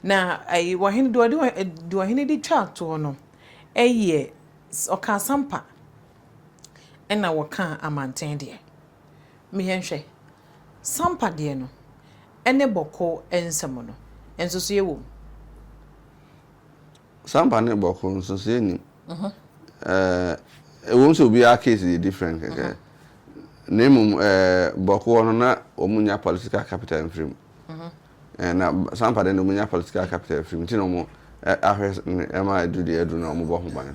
Na ayi wɔhene deɛ ɔde deɛ ɔhene de twaa toɔ no yɛ ɔka asampa ɛna wɔka amanten deɛ meyɛ nhwɛ sampa deɛ no ɛne bɔko nsɛm no nsosoɛ wɔ mu. Sampa ne bɔko nsosoɛ nim ɛɛ eh, ɛwɔ mu sɛ obiara case yɛ different kɛkɛ uh -huh. na mmom ɛɛ eh, bɔko hɔ no na wɔn nya political capital mfiri mu. Uh -huh. Ɛɛ na saa mpa deɛ na wɔnya political capital firi mu nti na wɔn ahwɛ ɛma ɛdu deɛ ɛdu na wɔn bɔ ho ban.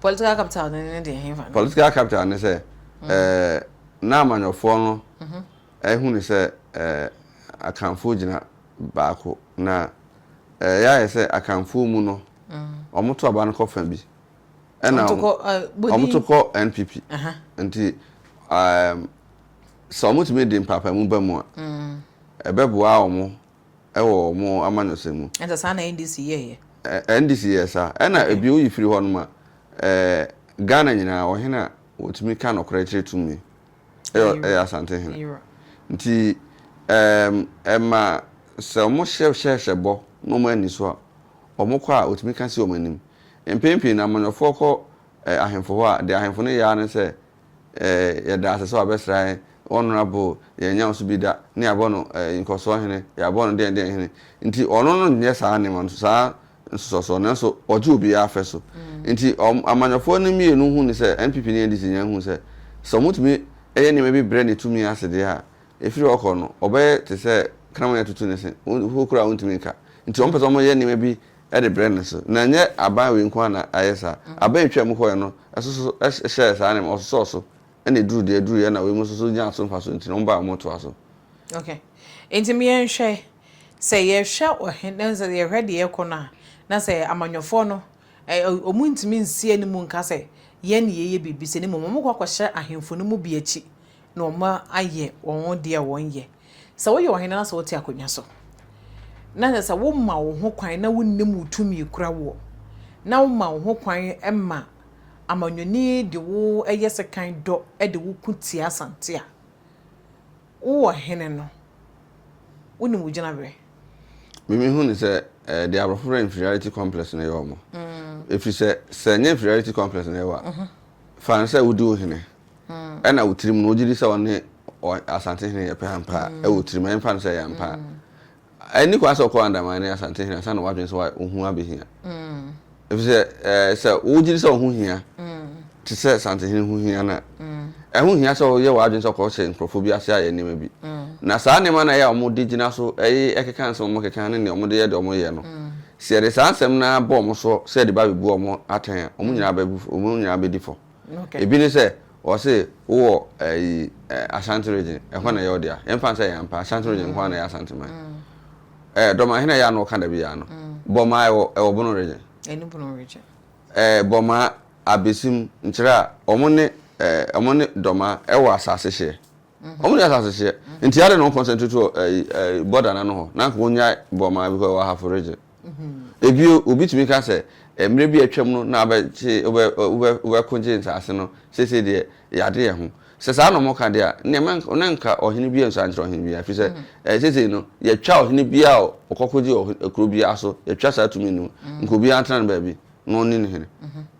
Political capital no ne deɛ ɛhefa no. Political capital ne sɛ ɛɛ na amanyɔfoɔ no ɛhunu sɛ ɛɛ akanfoɔ gyina baako na ɛɛ yɛayɛ sɛ akanfoɔ mu no wɔn to aba no kɔ fa bi ɛna wɔn to kɔ NPP nti ɛɛ sɛ wɔn tumi de mpaapaemu ba mu a. ɛbɛboa wɔn wɔ wɔn amanyɔsɛm mu. Ɛnta saa na NDC yɛeɛ. Ɛ, NDC yɛɛ saa. Ɛna Okay. ebio yi firi hɔ nom a, ɛɛ, Ghana nyinaa, ɔhene a wɔtumi ka nokorɛ kyerɛ tumi yɛ, Ɛyera. ɛyɛ Asante hene. Ɛyera. Nti, ɛɛm, ɛma sɛ wɔn hyɛ, hyɛ, hyɛ bɔ na wɔn anni so a, wɔn kɔ a, wɔtumi ka si wɔn anim. Mpɛn pii no, amanyɔfoɔ kɔ, ɛ, ahemfo hɔ a, deɛ ahemfo no yɛ ara ne sɛ, Yɛda ase sɛ wabɛsra yɛn Honourable yɛnnya ɔso bi da na yɛabɔ no Nkɔsoɔ Hene, yɛabɔ no deɛn deɛn Hene nti ɔno no nyɛ saa nneɛma no saa nsosɔsoɔ nanso ɔgye obiara afɛ so nti amanyɔfoɔ no mmienu hu no sɛ NPP ne NDC nyinaa hu sɛ sɛ wɔtumi yɛ nneɛma bi brɛ ne tumi ase deɛ a ɛfiri hɔ kɔ no ɔbɛyɛ te sɛ kraman atutu ne se hokura a ɔntumi nka nti wɔpɛ sɛ wɔyɛ nneɛma bi de brɛɛ no so. Na ɛnyɛ aban wei nko ara na ayɛ saa. Aban a ɛtwaam kɔeɛ no nso so hyɛɛ saa nneɛma, wɔsosɔɔ so na ɛduruu deɛ ɛduruiɛ na wei nso so nyaa so mfasoɔ nti na wɔn baeɛ a wɔtoaa so. Ok. Nti me yɛnhwɛ, sɛ yɛhwɛ ɔhene, na sɛ yɛhwɛ deɛ ɛrekɔ no a, na sɛ amanyɔfoɔ no, wɔn ntumi nsi anim nka sɛ yɛn na yɛyɛ biribi sei, na mmom wɔkɔ akɔhyɛ ahemfo no mu bi akyi na wɔayɛ wɔn deɛ a wɔyɛ. Sɛ woyɛ ɔhene na sɛ wote akonnwa so, na kyerɛ sɛ woma wo ho kwan na wonnim wo tumi kura woɔ, na woma wo ho kwan ma amanyɔni de wo yɛ sekan dɔ de wo ko tia Asante a, wo ɔhene no, wonim wo gyinaberɛ. Me mehu no sɛ eh, deɛ aborɔfo frɛ inferiority complex na ɛyɛ wɔn. Ɛfiri sɛ, sɛ ɛnyɛ inferiority complex na ɛwɔ a, fa no sɛ wodi wo hene. Ɛna wo tirim no, wogye di sɛ ɔne Asantehene yɛ pɛ ampa a? Wɔ tirim, yɛmfa no sɛ ɛyɛ ampa a, ɛnni kwan sɛ ɔkɔɔ Andaman ne Asantehene ansa na wadwene sɛ ohu abehia. Efisɛ sɛ wogye di sɛ ɔho hia te sɛ Asantehene ho hia no a, ɛho hia sɛ woyɛ w'adwene sɛ kɔhyɛ nkurɔfo bi ase ayɛ nneɛma bi. Na saa nneɛma no a ɛyɛ a wɔde gyina so keka nsɛm a wɔkeka ne nea wɔde yɛ deɛ wɔyɛ no, sɛ yɛde saa nsɛm no ara bɔ wɔn so sɛ ɛde ba abebu wɔn atɛn a, wɔn nyinaa bɛgu fɔ, wɔn nyinaa bɛdi fɔ. Ebi ne sɛ, wɔse wowɔ ayi eh, Ashanti region, ɛhɔ na ɛyɛ wo dea. Yɛmfa no sɛ ɛyɛ ampa, Ashanti region nko ara na ɛyɛ Asante man. Eh, Dɔmaa, hena yɛ a na wɔka da biara no? Bɔmaa ɛwɔ ɛwɔ Bono region. Ɛne Bono region. Eh, Bɔmaa, Abesim, Nkyerɛ a, wɔn ne eh, wɔn ne Dɔmaa ɛwɔ asase hyeɛ. Wɔn nni asase hyeɛ. Nti adɛn na wɔn concentrate wɔ ayi eh, border no ano hɔ? Na anka wɔnyae Bɔmaa because ɛwɔ Ahafo region. Bio, obi tumi ka sɛ, Mmerɛ bi a atwam no na wobɛkyee, wobɛ, wobɛ, wobɛkogyee nsase no, seesei deɛ, yɛade yɛn ho. Sɛ saa na wɔka deɛ a, nneɛ mɛ, na anka ɔhene biara nsua nkyerɛ ɔhene biara, ɛfiri sɛ, ɛɛ, seesei no, yɛatwa ɔhene biara a ɔkɔkogyee ɔhe, kuro biara so, yɛatwa saa tumi no mu. Nka obiara ntena ne baabi na ɔnni ne hene.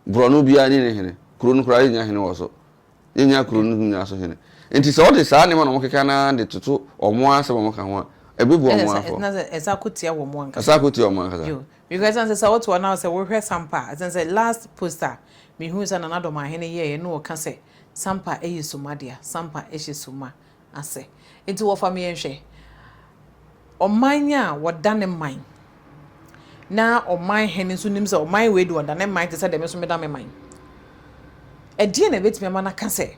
Borɔno biara nni ne hene. Kuro no koraa, yɛnnya hene wɔ so. Yɛnnya kuro no nyinaa so hene. Nti sɛ wɔde saa nneɛma na wɔkeka no ara de toto wɔn ara asɛm a wɔka ho a, ɛbɛbu wɔn ara fɔ. Ɛsan akɔtia wɔn ankasa. Ɛsan akɔtia wɔn ankasa. Yo, because ɛsan sɛ sɛ woto a na sɛ wohwɛ Sampa a, ɛsan sɛ last post a mehuu sɛ Nana Domaahene yɛeɛ na ɔka sɛ Sampa yɛ summa dea, Sampa hyɛ summa. ase. Enti wɔfa me yɛnhwɛ. Ɔman a wɔda ne man na ɔman hene nso nim sɛ ɔman wei de ɔda ne man te sɛ deɛ me nso meda me man. Ɛdeɛ na ɛbɛtumi ama no aka sɛ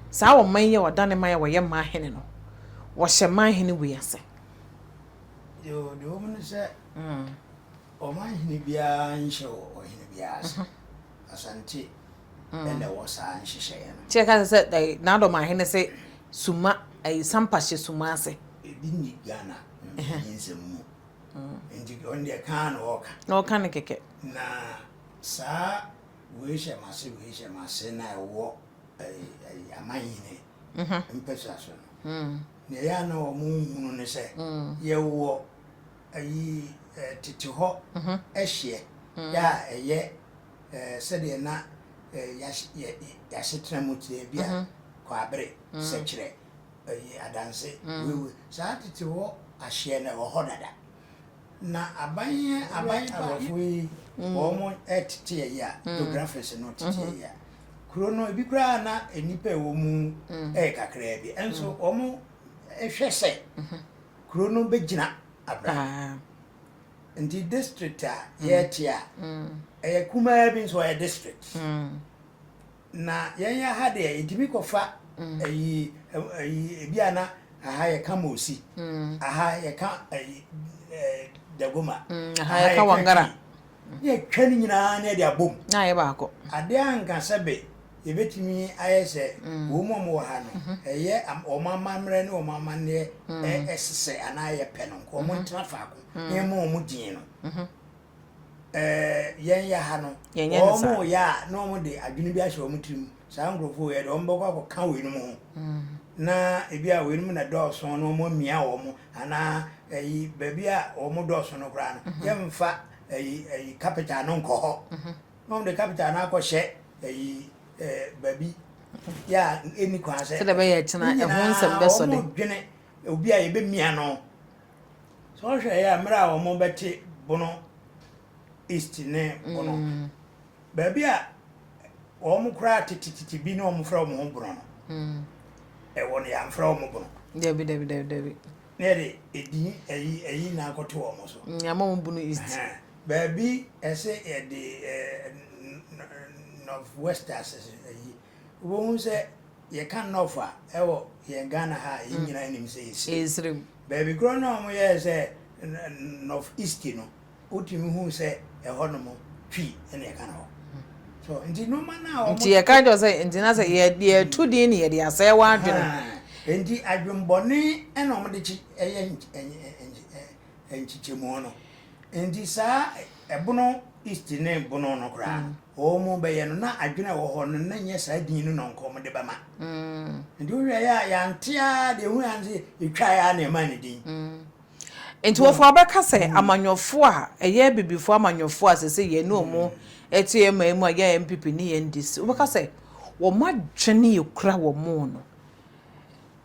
saa ɔman yi a ɔda ne man a wɔyɛ man hene no, wɔhyɛ man hene wei ase? Yoo, deɛ ɛwɔ mu ne sɛ ɔman hene biara nhyɛ ɔhene biara ase. Asante na ɛwɔ saa nhyehyɛeɛ no. Nti yɛka no sɛ N'adɔmahene se suma ɛyi Sampa hyɛ suma ase. Ebi nni Ghana mfoni nsɛm mu. Nti ɔno deɛ kaa na ɔɔka. Na ɔka no kɛkɛ. Na saa wei hyɛ m'ase wei hyɛ m'ase no a ɛwɔ ɛyi amanhene mpɛsua so no. Nea ɛyɛ a na wɔn nhunu ne sɛ yɛwɔ Ayi tete hɔ hyeɛ a ɛyɛ sɛdeɛ na y'asetena mu teɛ bi a Kwabere sɛ kyerɛ yi adanse wewee. Saa tete hɔ ahyeɛ no ɛwɔ hɔ dada. Na aban yi aban pa. Aborɔfo yi wɔn teteɛ yi a geographies no teteɛ yi a kuro no ebi koraa na nnipa ɛwɔ mu ɛyɛ kakraa bi nso wɔn hwɛ sɛ. Kuro no bɛgyina abran. Nti district a yɛte a, ɛyɛ kumaa bi nso ɔyɛ district. Na yɛn yɛ ha deɛ yɛtumi kɔfa ayi ayi ebi a na aha yɛka Mosi, aha yɛka ayi Dagoma, aha yɛka Wangara. Ne atwa no nyinaa na yɛde abom. Na ayɛ baako. Ade a anka sɛ be yɛbɛtumi ayɛ sɛ wɔn a wɔwɔ ha no, ɛyɛ wɔn amammerɛ ne wɔn amanneɛ sesɛ anaa yɛpɛ no nka wɔn ntena faako na yɛmma wɔn din no. Ɛɛ, yɛn yɛ ha no, wɔn yɛ a na wɔde adwene bi ahyɛ wɔn tirim. Saa nkurɔfoɔ wei, ɛde wɔn bɛkɔ akɔka weinom ho, na ebi a weinom na dɔɔso na wɔamia wɔn, anaa ayi, baabi a wɔn dɔɔso no koraa no, mhm. yɛmfa ayi, ayi kapita no nkɔ hɔ, mhm. na wɔde kapita no akɔhyɛ ayi eh, baabi yɛ a ɛni kwan sɛ sɛdeɛ bɛyɛ ɛkyena ɛho nsɛm bɛsɔ de wɔdwene obi a yɛbɛmia no sɛ wɔhwɛ yɛ a mmerɛ a wɔn bɛte bono east ne bono mm. baabi a wɔn koraa tetetete bi ne wɔn frɛ wɔn ho Bono no, ɛwɔ no yɛamfrɛ wɔn Bono. Dabi dabi dabi dabi. Na yɛde edin ayi ayi nyinaa akɔto wɔn so. Nyama wɔn Bono East. Baabi ɛsɛ yɛde North West asese ayi wobɛhu sɛ yɛka North a ɛwɔ yɛn Ghana ha a yɛn nyinaa nim sɛ yɛsirem. Baabi korɔ na wɔn yɛɛ sɛ North East no wotumi hu sɛ ɛhɔ nom twi ɛna ɛka no hɔ so nti nneɛma no a wɔn nti yɛka kyerɛ sɛ nti na sɛ yɛ yɛ tu din ne yɛde asɛe wɔn adwene nti adwembɔne ɛna wɔn de kyi ɛyɛ nkyekyɛmu no nti saa ɛbono east ne bono no koraa mm. wɔn bɛyɛ no na adwene ɛwɔ hɔ no na nyɛ saa din no na nkɔn wɔn de bɛma mm. nti wohwɛ yɛ a yɛante a deɛ hu yɛn sɛ etwa yɛ a na ɛma ne din. Mm. Nti wɔfa wɔbɛka sɛ amanyɔfoɔ a ɛyɛ abibifoɔ amanyɔfoɔ a sese yɛne ɔmo ɛte ɛman mu a yɛ NPP ne yɛ NDC wobɛka sɛ ɔmo adwene ekura ɔmo no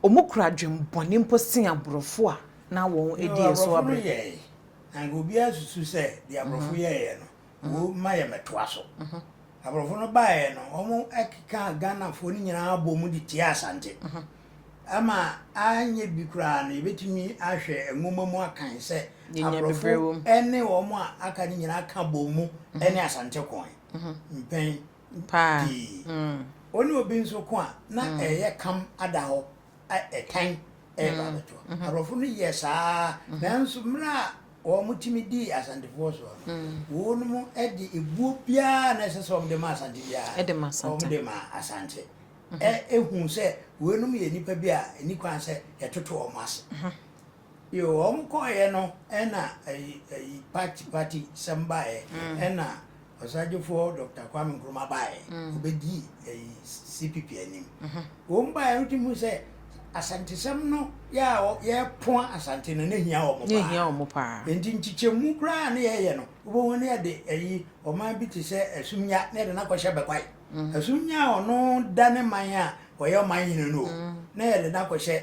ɔmo kura adwen bɔne mpo sen abrɔfo a na wɔn ɛdi yɛ so abrɛ. Yoo abrɔfo no yɛɛɛ na nka obiara susu sɛ deɛ abrɔfo yɛɛɛ no. Wo ma yɛ mɛtoa so. Aborɔfo no baeɛ no, wɔkeka Ghanafoɔ no nyinaa abɔ mu de tia Asante. Ama anyɛ bi koraa no, yɛbɛtumi ahwɛ nwoma mu akan sɛ aborɔfo ne wɔn a aka no nyinaa ka bɔ mu ne Asante koe mpɛn pii. Wɔne obi nso ko a, na ɛyɛ kam ada hɔ a ɛtan reba abɛto. Aborɔfo no yɛɛ saa ara, nanso mmerɛ a wɔtumi dii Asantefoɔ soɔ no, wɔnom de ebuo biara a na ɛsɛ sɛ wɔde ma Asante biara, wɔde maa Asante. Ɛhuu sɛ weinom yɛ nnipa bi a ɛnni kwan sɛ yɛtoto wɔn ase. Yoo wɔn kɔeɛ no ɛna ɛyi ɛyi party party sɛm baeɛ mm. ɛna ɔsagyefoɔ Dr. Kwame Nkrumah baeɛ mm. ɔbɛdi ɛyi CPP anim mm -hmm. wɔn baeɛ no tumi sɛ asantesɛm no yɛ a yɛpoa asante no ne hia wɔn paa nti nkyekyɛmu koraa ne yɛyɛ no wobɛhu ne yɛde ɛyi ɔman bi te sɛ asumnya ne yɛde no akɔhyɛ bɛkwae mm. asumnya a ɔno da ne man a ɔyɛ ɔman hene no o mm. ne yɛde no akɔhyɛ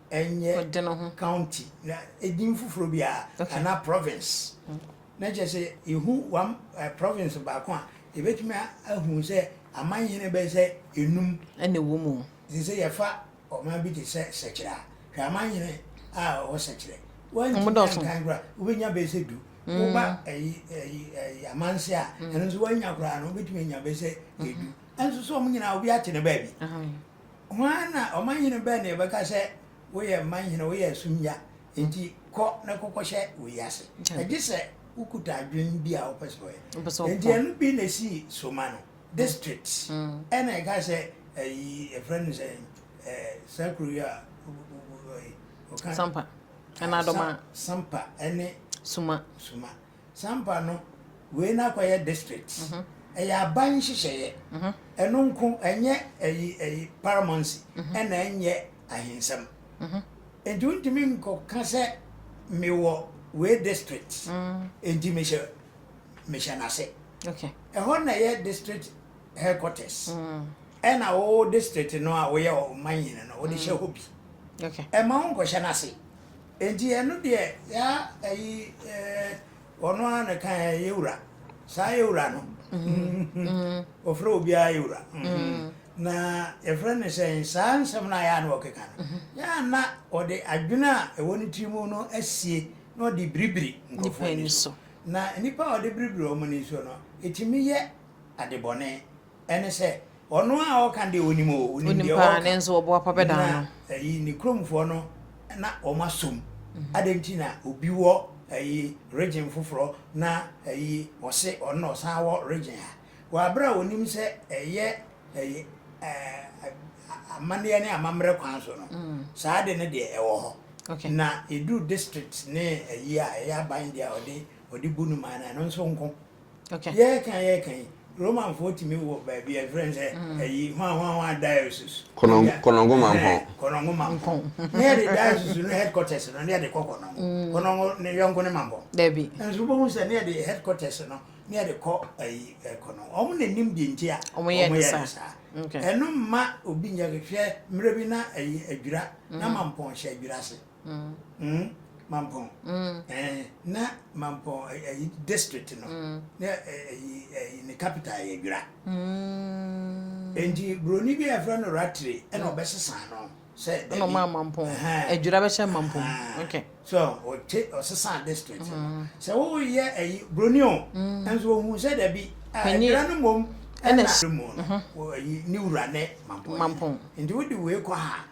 ɛnyɛ county na edin foforɔ bi a anaa province na kyerɛ sɛ yɛhu one eh, province baako a yɛbɛtumi ahu sɛ amanhene bɛyɛ sɛ enum ɛna ɛwɔ mu te sɛ yɛfa ɔman bi te sɛ sɛkyerɛ a hwɛ amanhene a ɔwɔ sɛkyerɛ wɔntumi nkan koraa wobɛnya bɛyɛ sɛ du woba ɛyi ɛyi ɛyi amanse a ɛno nso wɔanya koraa no wobɛtumi anya bɛyɛ sɛ edu ɛnso so wɔn nyinaa obi ate ne baabi Hwan na ɔmanhene bɛn na yɛbɛka sɛ, Woyɛ mmanhene, woyɛ asumnya, enti kɔ na kɔkɔhyɛ wei ase? Gye sɛ wokuta adwene bi a wopɛ sɛ ɔyɛ. Enti ɛno bi na ɛsii so ma no. Districts na ɛka sɛ ayi yɛfrɛ no sɛ saa kuro yi a ɔka. Sampa, Ɛna Adoma. Sampa ne Suma. Suma. Sampa no, wei no akɔyɛ district. Ɛyɛ aban nhyehyɛeɛ. Ɛno nko, ɛnyɛ ayi ayi paramountcy, ɛna ɛnyɛ ahensɛm. Nti wontumi nkɔka sɛ mewɔ wei district, nti mehyɛ mehyɛ n'ase. Ɛhɔ na ɛyɛ district headquarters. Ɛna wo district no a woyɛ ɔmanhene no, wode hyɛ hɔ bi. Ɛmma wonkɔhyɛ n'ase. Enti ɛno deɛ yaa ɛyi eh, ɔno ara na kan eh, yɛwura saa yɛwura no ɔfrɛ obiara yɛwura na yɛfrɛ no sɛn saa nsɛm no a yaa na ɔkeka no yaa na ɔde adwene a ɛwɔ ne tiri mu no asie na ɔde biribiri nkurɔfoɔ ani so na nnipa a ɔde biribiri wɔn ani so no ɛtumi yɛ adebɔne Ɛne sɛ, Ɔno a ɔreka deɛ ɔnim o, ɔnim deɛ ɔreka. Ɔnim paa, nanso ɔboapa bɛdaa no. Na ayi, ne kuromfoɔ no, na wɔn aso mu. Adɛn nti na obi wɔ ayi, region foforɔ, na ayi, ɔse ɔno na ɔsan wɔ region ha? Wɔ aberɛ a ɔnim sɛ ɛyɛ ayi, ɛɛ, amanneɛ ne amammerɛ kwan so no, saa ade no deɛ ɛwɔ hɔ. Okay. Na ɛduru district ne ayi a, ɛyɛ aban deɛ a ɔde, ɔde bu no maa no, ɛno nso nko. Okay. Yɛreka yɛreka yi, Romanfoɔ tumi wɔ baabi a yɛfrɛ no sɛ ayi mm. hwanhwanhwa diocese. Kɔnɔngo mampɔn. Kɔnɔngo mampɔn. Ne yɛde diocese no headquarters no ne yɛde kɔ kɔnɔngo. Mm. Kɔnɔngo ne yɔnko ne mampɔn. Dabi. Nso wobɛhu sɛ ne yɛde headquarters no ne yɛde kɔ ayi kɔnɔngo. Wɔn na nim deɛ nti a wɔn yɛ ne saa. Ɛno mma obi nyɛ hwɛ mmerɛ bi na ayi adwira na mm. mampɔn hyɛ adwira ase. mm, Mampɔn, mm, eh, na Mampɔn eh, eh, district no, mm. na eh, eh, eh, ne capital yɛ Dwira. Mm. Enti buroni bi a yɛfrɛ no Ratire ɛna ɔbɛsesa no sɛ dabi. Ɛna ɔmaa Mampɔn, Adwira bɛhyɛ Mampɔn. Okay. So ɔte ɔsesa district no. Mm. Sɛ woyɛ ɛyi eh, buroni o, mm. nso ohun sɛ dabi. Adwira ah, no mmom ɛna mu no, ɛyi mm-hmm. ne wura ne Mampɔn. Mampɔn. Enti wodi wei kɔ ha.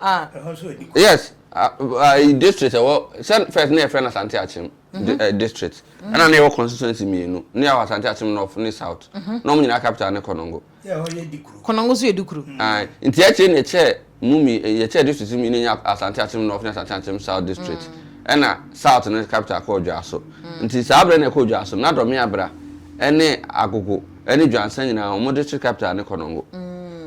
Ah. Ɛhɔ nso ɛdi kɔ. Yes, ayi district ɛwɔ sɛ first na yɛfrɛ no Asante Akyem mhm. district. Mhm. Ɛna na yɛwɔ constituency mmienu. Ne yɛwɔ Asante Akyem North ne South. Mhm. Na wɔn nyinaa capital ne Konongo. Ɛhɔ yɛ Dikuru. Konongo nso yɛ Dikuru. Nti akyire na yɛkyɛ mu mi yɛkyɛ district mi ne nya Asante Akyem North ne Asante Akyem South district. Mm. Ɛna South ne capital kɔ Odwaso. Mm. Nti saa abirɛ na ɛkɔ Odwaso na Dɔmea Bra ɛne Agogo. ne Dwansa nyinaa wɔde kyere capital ne Konongo.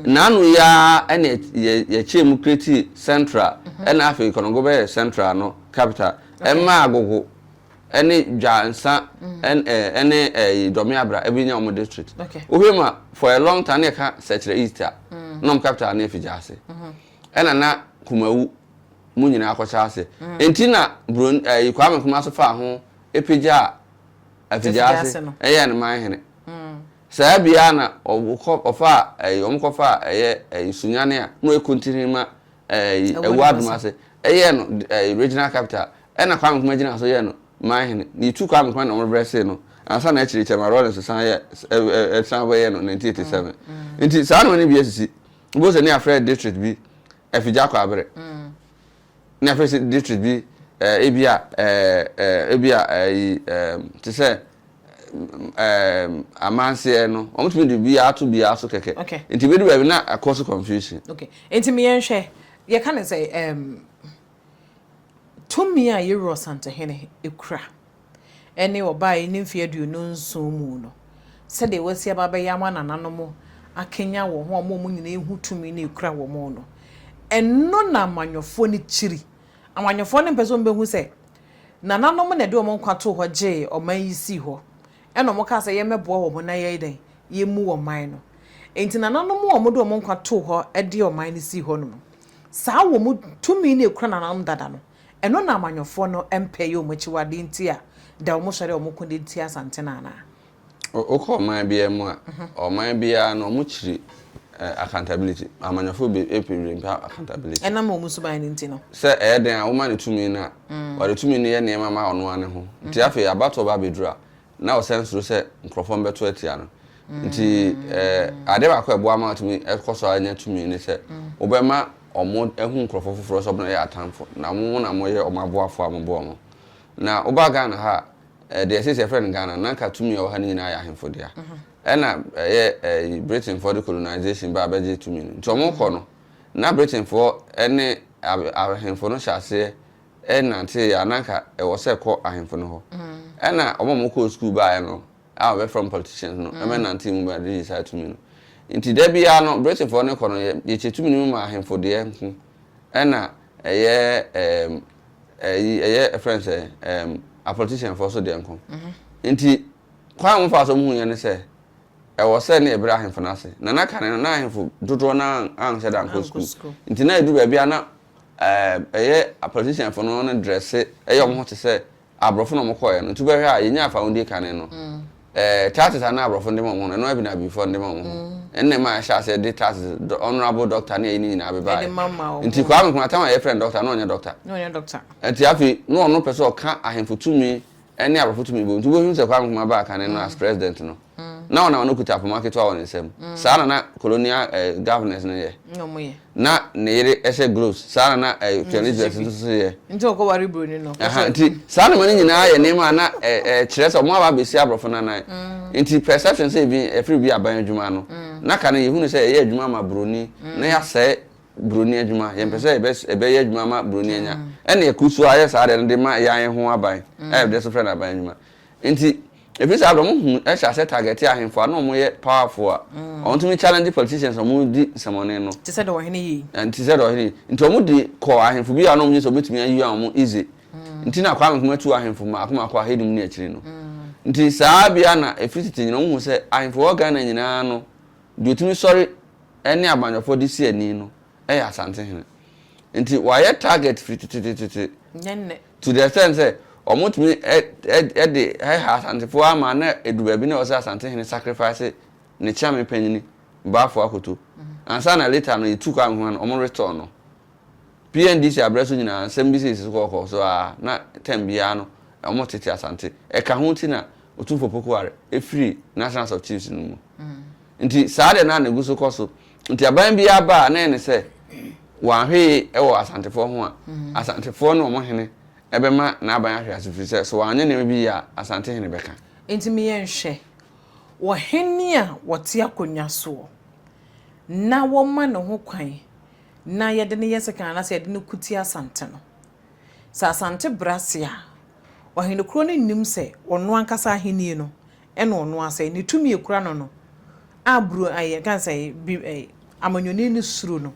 Naano yi ara na yɛkyɛɛ mu creatii Central na afei Konongo bɛyɛɛ Central no capital. Ɛmaa Agogo ne Dwansa ne Dɔmeabra bɛnya wɔn district. Wohwɛ mu a for a long time na yɛka Sɛkyerɛ East a na wɔn capital no yɛ Figyase. Ɛna na Kumawu mu nyinaa kɔkyɛ ase. Nti na Kwame Nkrumah nso faa ho pagyaa. Afigyase no. Ɛyɛɛ no man hene. Saa bi ara na wɔkɔ wɔfaa ɛyi wɔn kɔfaa ɛyɛ ɛyi Sunyani a mo yɛ kontini ma ɛyi Ɛwuo Adomase ɛyɛɛ no ɛyi regional capital ɛna Kwame Nkrumah gyinaa so yɛɛ no man hene na yɛtu Kwame Nkrumah na wɔn rebrɛ see no ansa na akyiri Chairman Rawlings san yɛ ɛɛ san bɛ yɛɛ no nineteen eighty seven nti saa nnoɔma no bi asisi wobɛhu sɛ ne yɛafrɛ district bi Afigya Kwabre. Na afei nso district bi eh, ebi a eh, ebi a ayi eh, te sɛ eh, amanseɛ no wɔtumi de biara ato biara so kɛkɛ okay. nti bɛdu baabi na akɔ so confusion okay. nti meyɛnhwɛ yɛka ne sɛ um, tumi a yɛwura ɔsantohene ɛkura ne ɔbae ne mfe aduonu nson mu no, sɛdeɛ wasi aba abɛyɛ ama nananom akanyan wɔn ho ama wɔn nyinaa ahu tumi no a ɛkura wɔn no, ɛno na amanyɔfoɔ no kyiri. Amanyɔfoɔ no mpɛ sɛ wɔbɛhu sɛ nananom na ɛde wɔn nkwa too hɔ gyee ɔman yi sii hɔ, ɛna wɔkaa sɛ yɛmmɛboa wɔn na yɛyɛ dɛn, yɛmmu ɔman no. Enti nananom a wɔde wɔn nkwa too hɔ de ɔman no sii hɔnom no, saa wɔn tumi no a ɛkura nananom dada no, Ɛno na amanyɔfoɔ no mpɛ yɛ wɔn akyiwadeɛ nti a da wɔn sɔre a wɔn ko de tia Asante no anaa? Wokɔ ɔman biara mu a, ɔman biara no wɔn kyiri accountability. Amanyɔfoɔ bebree mpɛ accountability. Ɛnam wɔn suban no nti no. Sɛ ɛyɛ dɛn a, woma no tumi no a, wɔde tumi no yɛ nneɛma ma ɔno ara ne ho. Nti afei abatoɔ ba bɛduru a, na ɔsan suro sɛ nkurɔfoɔ no bɛto atia no. Nti adeɛ baako a ɛboa ma wɔtumi kɔ so ara nya tumi ne sɛ, wobɛma wɔahu nkurɔfoɔ foforɔ sɛ wɔyɛ atamfo, na mo na moyɛ wɔn aboafoɔ a mobɔ wɔn. Na woba Ghana ha a, deɛ seesei yɛfrɛ no Ghana no, na anka tumi a ɛwɔ ha no nyinaa yɛ ahemfo dea. Ɛnna ɛyɛ ayi, Britainfoɔ de colonization baa bɛgyee tumi no. Nti wɔkɔ no, na Britainfoɔ ne ahemfo no hyɛ aseɛ nantee a, na anka ɛwɔ sɛ ɛkɔ ahemfo no hɔ. Ɛnna wɔn a wɔkɔɔ sukuu baeɛ no a wɔbɛfrɛ wɔn politicians no ma ɛnantee mu baa British saa tumi no. Enti da biara no, Britainfoɔ no rekɔ no, yɛkyɛ tumi no mu ma ahemfo deɛ nko na ɛyɛ ɛɛm ɛyi ɛyɛ ɛfrɛ no sɛn ɛɛm apoliticianfoɔ nso deɛ nko. Enti kwan a wɔfaa so wɔn huiɛ ne sɛ, ɛwɔ sɛ na yɛbrɛ ahemfo no ase. Na na kane no, na ahemfo dodoɔ no ara anhyɛ da ankɔ sukuu. Enti na ɛduru baabi a na Ɛɛm ɛyɛ a politician fo no no dresse ɛyɛ ɔmo ho te sɛ abrɔfo na ɔmo kɔɔɛ no nti wobɛhwɛ a yɛnyaa fa wodie kane no ɛɛ taxes a na abrɔfo no de ma ɔmo no ɛno ara bi na abibi foɔ no de ma ɔmo ho ɛno na ɛmaa yɛhyɛɛ aseɛ de taxes dɔ honourable doctor ne ayi no nyinaa bebaeɛ nti Kwame Nkrumah time a yɛfrɛ no doctor na ɔnyɛ doctor nti afei na ɔno pɛ sɛ ɔka ahemfo tumi ɛne abrɔfo tumi bom nti wobɛhunu sɛ Kwame Nkrumah baa kane no as president no na ɔnam no kuta poma ketewa wɔ ne nsam saa na na colonial eh, governors no yɛ na ne yere ɛhyɛ gloves saa na na eh, Chinese dress nso so yɛ nti ɔkɔ wari buroni no ɛha nti saa nneɛma no nyinaa yɛ nneɛma a na eh, kyerɛ sɛ ɔmo aba abɛsi abrɔfo nanan mm. nti perception sɛ ebi ɛfiri bi aban adwuma no mm. na kane yɛhunu sɛ ɛyɛ adwuma ma buroni na yɛasɛe buroni adwuma, yɛmpɛ sɛ yɛbɛyɛ adwuma ama buroni anya, ɛna yɛkuru so ayɛ saa adeɛ no de ma yɛn yɛn ho aban, ɛyɛ mm. deɛ so frɛ no aban adwuma. Nti, ɛfiri saa berɛ ɔmo hu hyɛ asɛ target ahemfo a na ɔmo yɛ powerful a, mm. ɔmo tumi challenge politicians ɔmo di nsɛmɔne no. Te sɛ deɛ ɔhene yi. Te sɛ deɛ ɔhene yi. Nti ɔmo de kɔ ahemfo bi a na ɔmo nye sɛ ɔmo tumi ayi ɔmo easy. Mm. Nti na akɔ ahemfo mɛtu ahemfo mako mako ahenum ne akyiri no. Nti saa bia na ɛfiri tete nyina ɔmo hu sɛ ahemfo wɔ Ghana nyinaa no, deɛ ɔtumi sɔre ne abanyɔfoɔ de si ani no yɛ Asantehene. Nti wɔayɛ target firi tetetetete to the extent sɛ wɔtumi de hɛha Asantefoɔ ara ma na ɛdu baabi na ɛwɔ sɛ Asantehene sacrifice ne Kyeame panyini Bafo Akoto ansa na later no yɛtu Kwame Nkrumah no wɔn retɔn no. PNDC aberɛ so nyinaa nsɛm bi sisi so kɔkɔɔ so ara na term biara no wɔtete Asante. Ɛka ho nti na Otumfoɔ Pokuware firii Nationals of Chiefs no mu. Nti saa deɛ na ɛgu so kɔ so. Nti aban biara ba a, na ɛyɛ no sɛ wɔanhwee wɔ Asantefoɔ ho a, Asantefoɔ ne wɔn hene bɛma n'aban ahwe ase firi sɛ, sɛ wɔanyɛ nneɛma bi yie a, Asante hene bɛka. Nti me yɛnhwɛ, wɔ hene a wɔte akonnwa soɔ, na wɔma ne ho kwan na yɛde no yɛ sekan anaasɛ yɛde no ko tia Asante no, sɛ Asante brɛ ase a, ɔhenekuro no nnim sɛ ɔno ankasa ahennie no ɛna ɔno asɛe ne tumi ekura no no a bru ɛyɛ yɛka no sɛ bi ɛyɛ amanyɔni ne suro no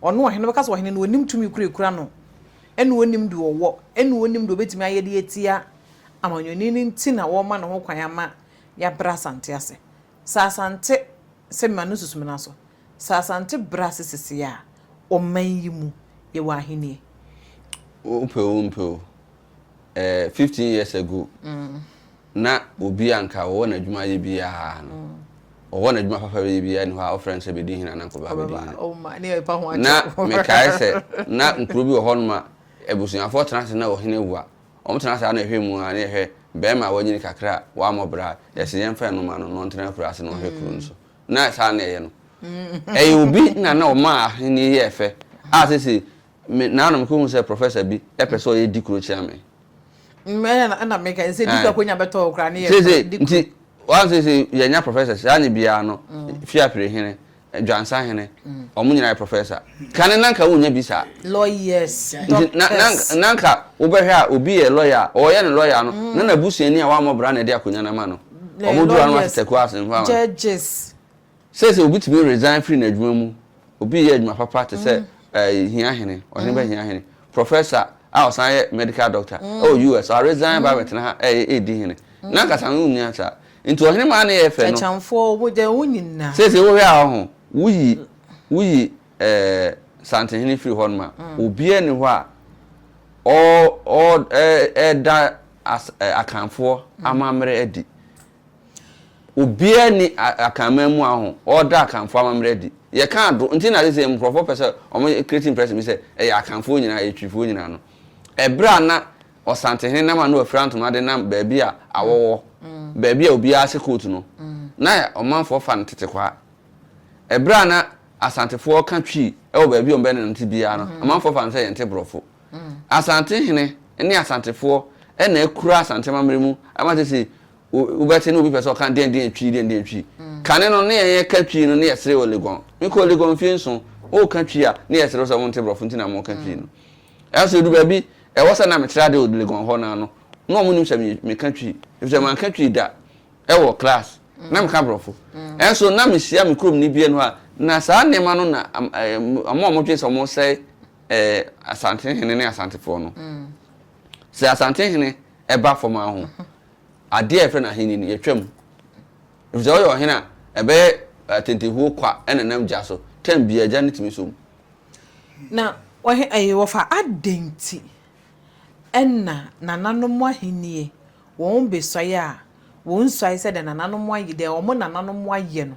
ɔno ɔhene no bɛka sɛ ɔhene no onim tumi koro ekura no ɛna onim deɛ ɔwɔ ɛna onim deɛ obetumi ayɛ de atia amanyɔni no nti na wɔma ne ho kwan ama yɛabrɛ asante ase sɛ asante sɛ ma no susu me na so sɛ asante brɛ ase sese a ɔman yi mu yɛwɔ ahenie. Wopɛ o wompɛ o ɛɛ fifteen years ago Ná obi a anka ɔwɔ n'adwuma yɛ biara no, ɔwɔ n'adwuma papa bɛyɛ biara nni hɔ a wɔfrɛ no sɛ bɛdi hene anaa nkɔba bɛdi hene. Na mekae sɛ na nkuro bi wɔ hɔnom a abusuafoɔ tena ase na ɔhene wu a, wɔtena saa na ɛhwɛ mu ara na yɛhwɛ barima a wanyini kakra a wammɔ bra a, yɛse yɛmfa no ma no na ɔntena akuraase na ɔnhwɛ kuro no so. Na saa na ɛyɛ no. Ɛyɛ obi na na ɔmaa ahennie yɛɛ fɛ a seesei Me na na me kɔ hu sɛ professor bi pɛ sɛ ɔyɛ di kuro kyia me. Mɛ na na me ka sɛ di kuro akonya bɛ tɔ okura ne yɛ fɛ di kuro. Nti wɔn sɛ sɛ yɛ nya professor saa ne biara no fi apere hene dwansa hene wɔn nyinaa yɛ professor kane nanka wɔn nya bi saa. Lawyers doctors. Nti na nanka wɔbɛhwɛ a obi yɛ lawyer a ɔyɛ ne lawyer no na na busuani a wɔn amɔ bra na ɛde akonya na ma no wɔn dura no atetɛ kura asɛmpa wɔn. Judges. Seesei obi tumi resign firi n'adwuma mu, obi reyɛ adwuma papa te sɛ hia hene, ɔhene ba hia hene, professor a ɔsan yɛ medical doctor wɔ US, waresign aba abɛtena ha redi hene. N'ankasa no wonni ase saa. Nti ɔhene maa ne yɛɛ fɛ no. Akyamfoɔ, wogyae wo nyinaa. Seesei wohwɛ a ɔho, woyi, woyi Santenhene firi hɔnom a, obiara nni hɔ a ɔreda Akanfoɔ amammerɛ adi. Obiara nni Akan mmaamua ho, wɔda Akanfoɔ amammerɛ adi. Yɛka ado, nti na seesei nkurɔfoɔ pɛ sɛ wɔyɛ create impression bi sɛ ɛyɛ Akanfoɔ nyinaa, ɛyɛ Twifoɔ nyinaa no. Ɛberɛ a na Ɔsantehene nam a na wafira ntoma de nam baabi a awɔ wɔ, baabi a obiara hyɛ coat no, na ɔmanfoɔ fa no tete kwaa. Ɛberɛ a na Asantefoɔ ka Twi wɔ baabi a wɔbɛnante biara no, amanfoɔ fa no sɛ yɛnte Borɔfo. Asante hene ne Asantefoɔ na akura Asante amammerɛ mu ama sesei wobɛte na obi pɛ sɛ ɔka deɛn deɛn Twi deɛn deɛn Twi. Kane no ne yɛn yɛka Twi no ne yɛsere wɔ Legon. Mekɔɔ Legon mfie nson, woka Twi a ne yɛsere wo sɛ wonte Borɔfo nti na moka Twi no. Nanso ɛduru baabi ɛwɔ sɛ na metra ade wɔ Legon hɔ no ara no, na wɔnnim sɛ meka Twi efisɛ manka Twi da wɔ class, na meka Borɔfo. Nanso na mehyia me kuromni bi anuwa a na saa nneɛma no na wɔn a wɔdwene sɛ wɔresɛe ɛɛ Asantehene ne Asantefoɔ no. Sɛ Asantehene ɛba fam ara ho, adeɛ a yɛfrɛ no ahenni no, yɛtwa mu. Efisɛ ɔyɛ ɔhene a ɛbɛyɛ atentehuo kwa ɛnenam gya so, tɛm biara gya no tumi sɔ mu. Na wɔhe ɛɛ wɔfa adɛn nti ɛna nananom ahennie wɔn besuae a wɔn nsuae sɛdeɛ nananom ayɛ, deɛ wɔn nananom ayɛ no.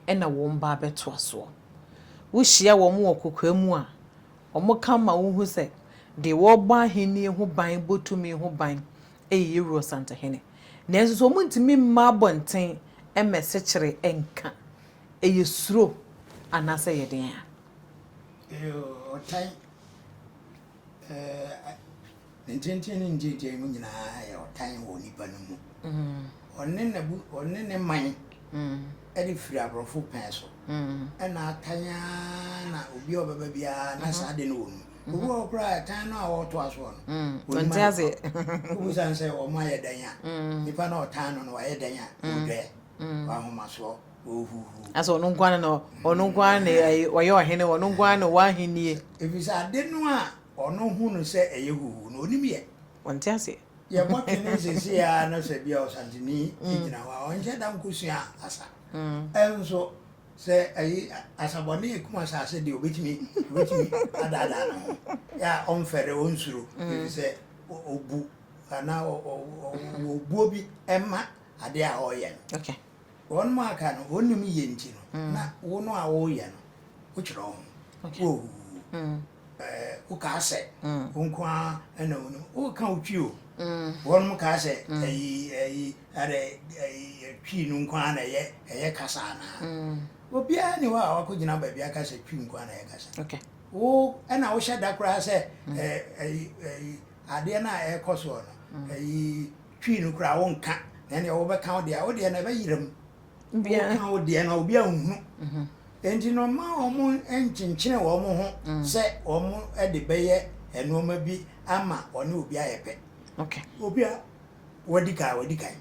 na wɔn mma abɛtoa soɔ. Wohyia wɔn wɔ kokoa mu a, wɔka ma wohu sɛ deɛ ɔrebɔ ahennie ho ban, bɔ tumi ho ban yɛ Yewuro Santahene. Nanso so wɔntumi mma abɔnten mmɛ sekyere nka? Ɛyɛ suro anaasɛ ɛyɛ deɛn a? Ɛyɛ ɔtan. Ne ntenten ne ntiatiae mu nyinaa yɛ ɔtan wɔ onipa no mu. Ɔne n'abu ɔne ne man de firi aborɔfo pɛn so. Ɛna atan ara na obi a ɔbɛba biara na saa de no wɔ mu. Obi wɔ koraa ɛtan no a ɔreto asoɔ no. Ɔnte ase. Wobusa sɛ wɔn ayɛ dɛn a, nipa na ɔtan no no wayɛ dɛn a, ɔdwɛɛ. mm. w'ahomasoɔ wɔhuhu asɛ ɔno nko ara na ɔno nko ara na ɔyɛ ɔhene ɔno nko ara na ɔwɔ ahennie ɛfiri sɛ ade no a ɔno hu no sɛ ɛyɛ huhu na ɔnim yɛ ɔnte aseɛ yɛbɔ twene sese a na sɛ bia ɔsanteni mm. gyina hɔ a ɔnhyɛ da nkɔsua asa mm. ɛnso sɛ ayi asabɔne ɛkum asase deɛ ɔbɛtumi ɔbɛtumi adaadaa no ho yɛ a ɔmfɛre ɔnsuro ɛfiri sɛ ɔbu anaa ɔbuo bi ɛma ade a ɔreyɛ no. Okay. Wɔn mu aka no, wɔn nim yie nti no, mm. na wo no a wɔreyɛ no, wotwerɛ ho. Okay. Wo hu. Mm. Ɛɛ wokaa sɛ. Mm. Wo nko ara ɛna wo no. Woka wo twi o. Mm. Wɔn mu kaa sɛ. Mm. Ɛyi ɛyi ɛdɛ ɛyi ɛtwi no nko ara na ɛyɛ ɛyɛ kasa anaa. Mm. Obiara ni hɔ a wakɔ gyina baabi aka sɛ twi nko ara na ɛyɛ kasa. Okay. Wo ɛna wohyɛ da koraa sɛ. Mm. Ɛɛ ɛyi ɛyi adeɛ no a ɛrekɔ soɔ no. Mm. Ɛyi. Twi no koraa wonka na ɛneɛ wobɛka wo deɛ a wo deɛ no ɛbɛyera mu wonka wo deɛ no a obi anhunu enti no ma wɔn nkyenkyene wɔn ho sɛ wɔn de bɛyɛ nnoɔma bi ama wɔne obi ayɛ pɛ obi a wadi kan wadi kan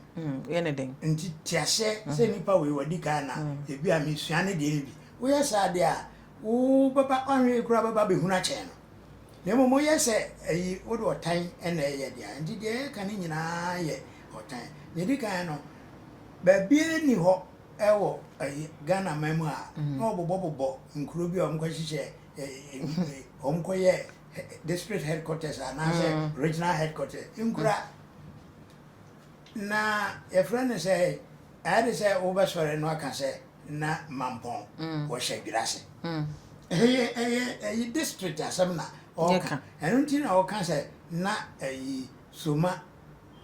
nti te aseɛ sɛ nipa wei wadi kan na ebi a mesua ne deɛ no bi woyɛ saa deɛ a wobɛba ɔnhwɛ yi koraa bɛba bɛhunu akyɛn no Na mmom woyɛ sɛ ayi, wode ɔtan na ɛreyɛ dea, enti deɛ yɛreka no nyinaa yɛ ɔtan. Nea ɛdi kan no, baabiara nni hɔ wɔ Ghanaman mu a na wɔbobɔbobɔ nkuro bi a wɔkɔhyehyɛ, wɔkɔyɛ district headquarters anaasɛ regional headquarters. Nkura na yɛfrɛ no sɛ, ayɛ te sɛ wobɛsɔre na woaka sɛ na Mampong wɔ Hyɛdwerɛ ase. Ɛyɛ ɛyɛ ɛyi district asɛm na ɔka. Ɛno nti na ɔka sɛ na ɛyi Soma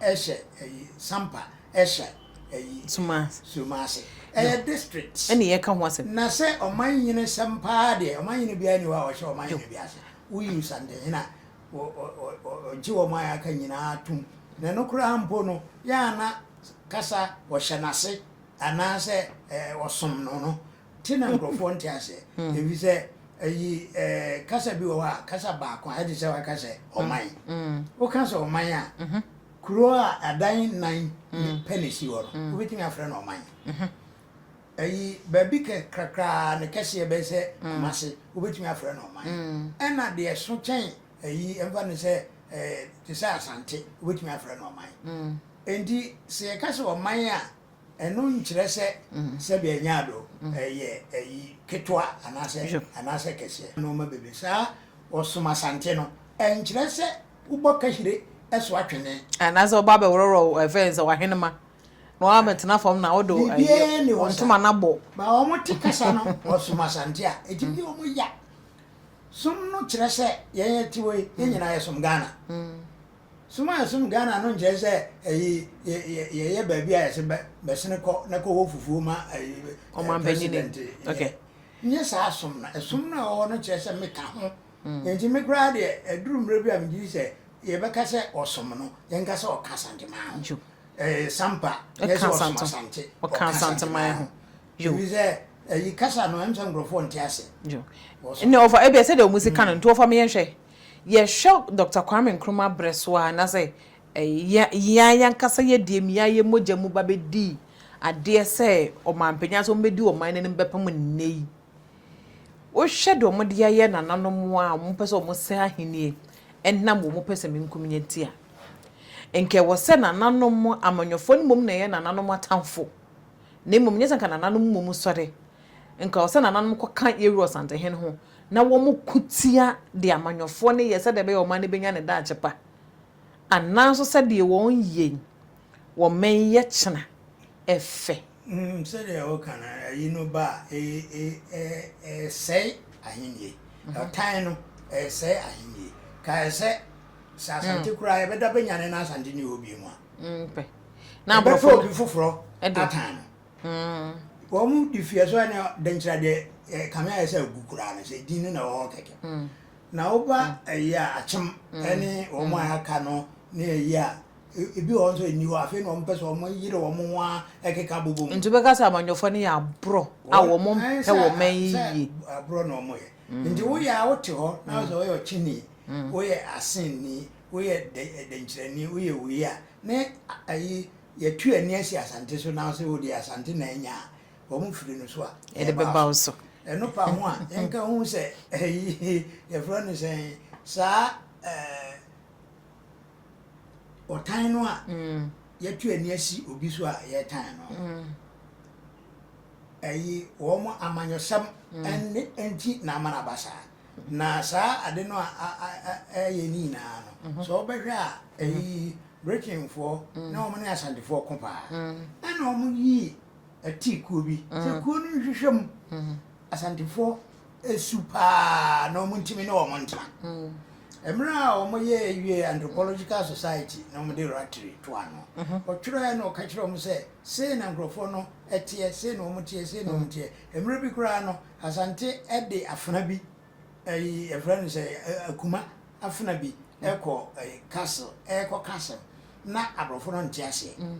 ɛhyɛ ɛyi Sampa ɛhyɛ ɛyi Soma Soma ase. Ɛyɛ district. Ɛna yɛka ho asɛm. Na sɛ ɔman nyini sɛm paa deɛ ɔman nyini biara ni hɔ a ɔhyɛ ɔman nyini bi ase. Woyi Nsantenhene a ɔgye wɔn a yɛaka nyinaa tom. Na ɛno koraa mpo no yɛ a na kasa ɔhyɛ n'ase. anaasɛ ɔsom no no te na nkurɔfoɔ nte aseɛ ɛfiri sɛ ayi kasa bi wɔ hɔ a kasa baako a ɛte sɛ waka sɛ ɔman woka sɛ ɔman a kuro a adan nan pɛ na ɛsi hɔ no wobɛtumi afrɛ no ɔman ayi baabi kakraa ne kɛseɛ bɛyɛ sɛ mase wobɛtumi afrɛ no ɔman ɛna deɛ so kyɛn ayi mfa no sɛ ɛɛ te sɛ Asante wobɛtumi afrɛ no ɔman enti sɛ yɛka sɛ ɔman a ɛno nkyerɛ sɛ sɛdeɛ ɛnyɛ ado ɛyɛ ayi ketewa anaasɛ anaasɛ kɛseɛ nnoɔma bebree saa ɔsom Asante no ɛnkyerɛ sɛ wobɔ kahyire ɛso atwene anaasɛ wobɔ abɛworɔworɔ ɛfɛ sɛ wahenema na wabɛtena fam na wode ntoma no abɔ ma wɔn te kasa no ɔsom Asante a ɛtumi yɛ wɔn ya Som no kyerɛ sɛ yɛn yɛte hɔ yi, yɛn nyinaa yɛsom Ghana. Som a yɛsom Ghana no nkyerɛ sɛ ɛyi yɛyɛ baabi a yɛse bɛsene kɔ na kɔwɔ fufuo ma ɛyi president. Okay. Nyɛ saa som no. Ɛsom no a ɛwɔ hɔ no kyerɛ sɛ meka ho. Nti me koraa deɛ ɛduru mmerɛ bi a megye di sɛ yɛbɛka sɛ ɔsom no, yɛnka sɛ ɔka Asanteman ho. Ɛyɛ Sampa, nyɛ sɛ ɔsom Asante, ɔka Asanteman ho. Yo. Ɛfiri sɛ, ayi kasa no, ɛnsɛ sɛ nkurɔfoɔ nte aseɛ. Yo. Ɛnna wɔfa, ebia sɛdeɛ wɔn si ka no, nti wɔfa me yɛnhwɛ. Yɛhwɛ Dɔkta Kwame Nkrumah berɛ so ara, na sɛ ɛyɛ yɛn ara ankasa yɛdeɛ mu, yɛn ara yɛn mogya mu ba bɛdii adeɛ sɛ ɔmanpanyin anaasɛ wɔbɛdi ɔman no anim bɛpem nnɛ yi. Wohwɛ deɛ wɔde ayɛ nananom a wɔpɛ sɛ wɔsɛe ahennie ɛnam wɔn pɛsɛmenkominya nti a, nka ɛwɔ sɛ nananom, amanyɔfoɔ no mmom na ɛyɛ nananom atamfo. Na mmom nyɛ sɛ anka nananom mmom sɔre, anka ɛwɔ sɛ nananom kɔka Yerua Ɔsantehene ho na wɔko tia deɛ amanyɔfoɔ no yɛ sɛdeɛ ɛbɛyɛ a ɔman no bɛnya ne daakye pa, anaa nso sɛdeɛ wɔn yei wɔ mmɛnyɛ kyena ɛfɛ. Wonim sɛdeɛ woka no, ayi no ba a, ɛresɛe ahennie. Ɔtan no, ɛresɛe ahennie. Kae sɛ, sɛ Asante koraa yɛbɛda bɛnyane na Asante nni hɔ bio mu a. na aborɔfo obi foforɔ akan no hmm. wɔn de fie so ɛna dɛnkyerɛ deɛ eh, kame ayɛ sɛ agu koraa no sɛ din no na ɛwɔ hɔ kɛkɛ hmm. na woba hmm. ɛyi a akyem ɛne wɔn a aka no ne ɛyi a ebi wɔn nso ɛni hɔ afei na wɔn pɛ sɛ wɔn yere wɔn ho a ɛkeka bobɔ mu. nti bɛka sɛ amanyɔfoɔ no yɛ aborɔ a wɔn mpɛ wɔn mɛn yie. aborɔ na wɔn yɛ nti woyɛ a wote hɔ na sɛ wɔyɛ ɔkyini woyɛ asen ni. woyɛ dɛ dɛnkyerɛni, woyɛ wei a, ne a ayi, yɛatu ani asi Asante so na wo se wode Asante na anya a, wɔn firi no so a, Yɛde ɛbaa bɛba wo so. so. Ɛno fa ho a, yɛnka hu sɛ ayi, yɛfrɛ no sɛn, saa eh, ɔtan no a yɛatu ani asi obi so a yɛtan no no, ayi, wɔn amanyɔsɛm ɛne nti na ama no aba saa. Na saa ade no a ɛyɛ ne nyinaa no, sɛ wobɛhwɛ a, ɛyi Britainfoɔ na wɔn ne Asantefoɔ ko paa. Ɛna wɔn yii ɛtii kuo bi, sɛ kuo no nhwehwɛ mu. Asantefoɔ ɛsu paa na wɔn ntumi ne wɔn ntena. Ɛmerɛ a wɔn yɛ wie Anthropological Society na wɔn de Rattray to ano, ɔtwerɛɛ na ɔka kyerɛ wɔn sɛ, sei na nkorɔfoɔ no ɛteɛ, sei na wɔn teɛ, sei na wɔn teɛ. Ɛmerɛ bi koraa no, Asante de afena bi, ɛyi yɛfrɛ no sɛ akuma afena bi ɛkɔ ɛyi castle, ɛkɔ castle na aborɔfo no nte aseɛ. Mm.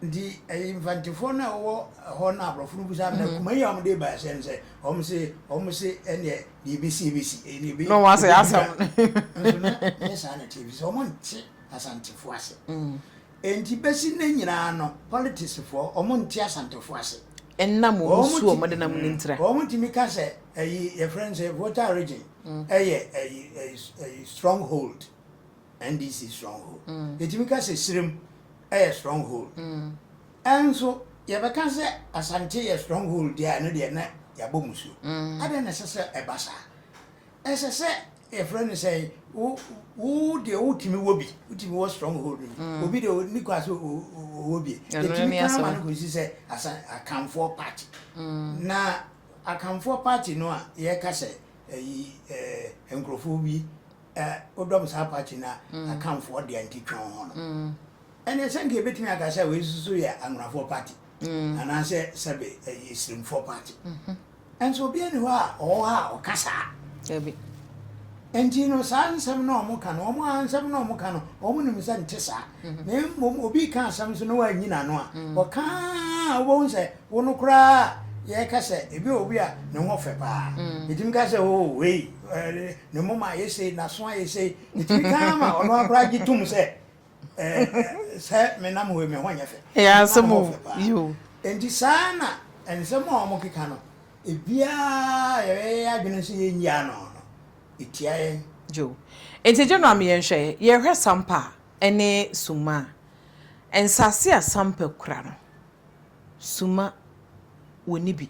Nti ɛyi mfantefoɔ no a wɔwɔ hɔ na aborɔfo no busa na mm-hmm. akuma yi a wɔn de ba ɛsɛ no sɛ wɔn se wɔn se ɛneɛ deɛ ebesi ebesi ɛneɛ ebe. Na wɔn ase asɛm. Nso na nyɛ saa na ɛte ebi sɛ wɔn nte asantefoɔ ase. Mm. Enti besi nnɛ nyinaa no politicsfoɔ wɔn nte Asantefoɔ ase. Ɛnna mo mu su wɔn denam ne ntira. Wɔn tumi ka sɛ ɛyi yɛfrɛ no sɛ Volta region ɛyɛ ɛyi ɛyi stronghold NDC stronghold. Yɛtumi ka sɛ Sirem ɛyɛ stronghold. Ɛnso yɛbɛka sɛ Asante yɛ stronghold deɛ a ɛno deɛ na yɛabɔ musuo. Adɛn na ɛsɛ sɛ ɛba saa? Ɛsɛ sɛ. yɛfrɛ no sɛ wo wo deɛ wotumi wɔ bi wotumi wɔ strong hold no mm. obi deɛ ne kɔ ase ɔwɔ bi ɛtumi kan ma no kɔsi sɛ asa akanfoɔ party mm. na akanfoɔ party no a yɛka sɛ ɛyi ɛɛ nkurɔfoɔ bi ɛɛ wodɔm saa party na mm. akanfoɔ deɛ nti twɛn ho no ɛnna sɛ nka ebetumi aka sɛ wɔn nso yɛ anwurafoɔ party anaasɛ sɛbe ɛyɛ Islamfoɔ party. Nso obiara nni hɔ a ɔwɔ hɔ a ɔka saa. Dabi. Nti no saa nsɛm no a wɔka no, wɔn ara nsɛm no a wɔka no, wɔnim sɛ nte saa. Na mmom obi reka asɛm nso na wanyi n'ano a, ɔka ara a wobɛhu sɛ wo no koraa a yɛreka sɛ ebi wɔ obi a ne ho fɛ paa. Ɛtumi ka sɛ oo wei ne moma ayɛ sei, n'aso ayɛ sei. Ɛtumi ka ara ma ɔno ara koraa gye tom sɛ Sɛ me nam hɔ yi, me ho nyɛ fɛ. Ɛyɛ asɛm o, yo. Enti saa na nsɛm a wɔkeka no, ebiara a yɛbɛyɛ yɛn adwene sɛ yɛrenyi ano no, etia yɛn. Yo. Enti gye no a me yɛnhwɛ, yɛhwɛ sampa ne summa a, nsase a sampa kura no, summa wɔnni bi.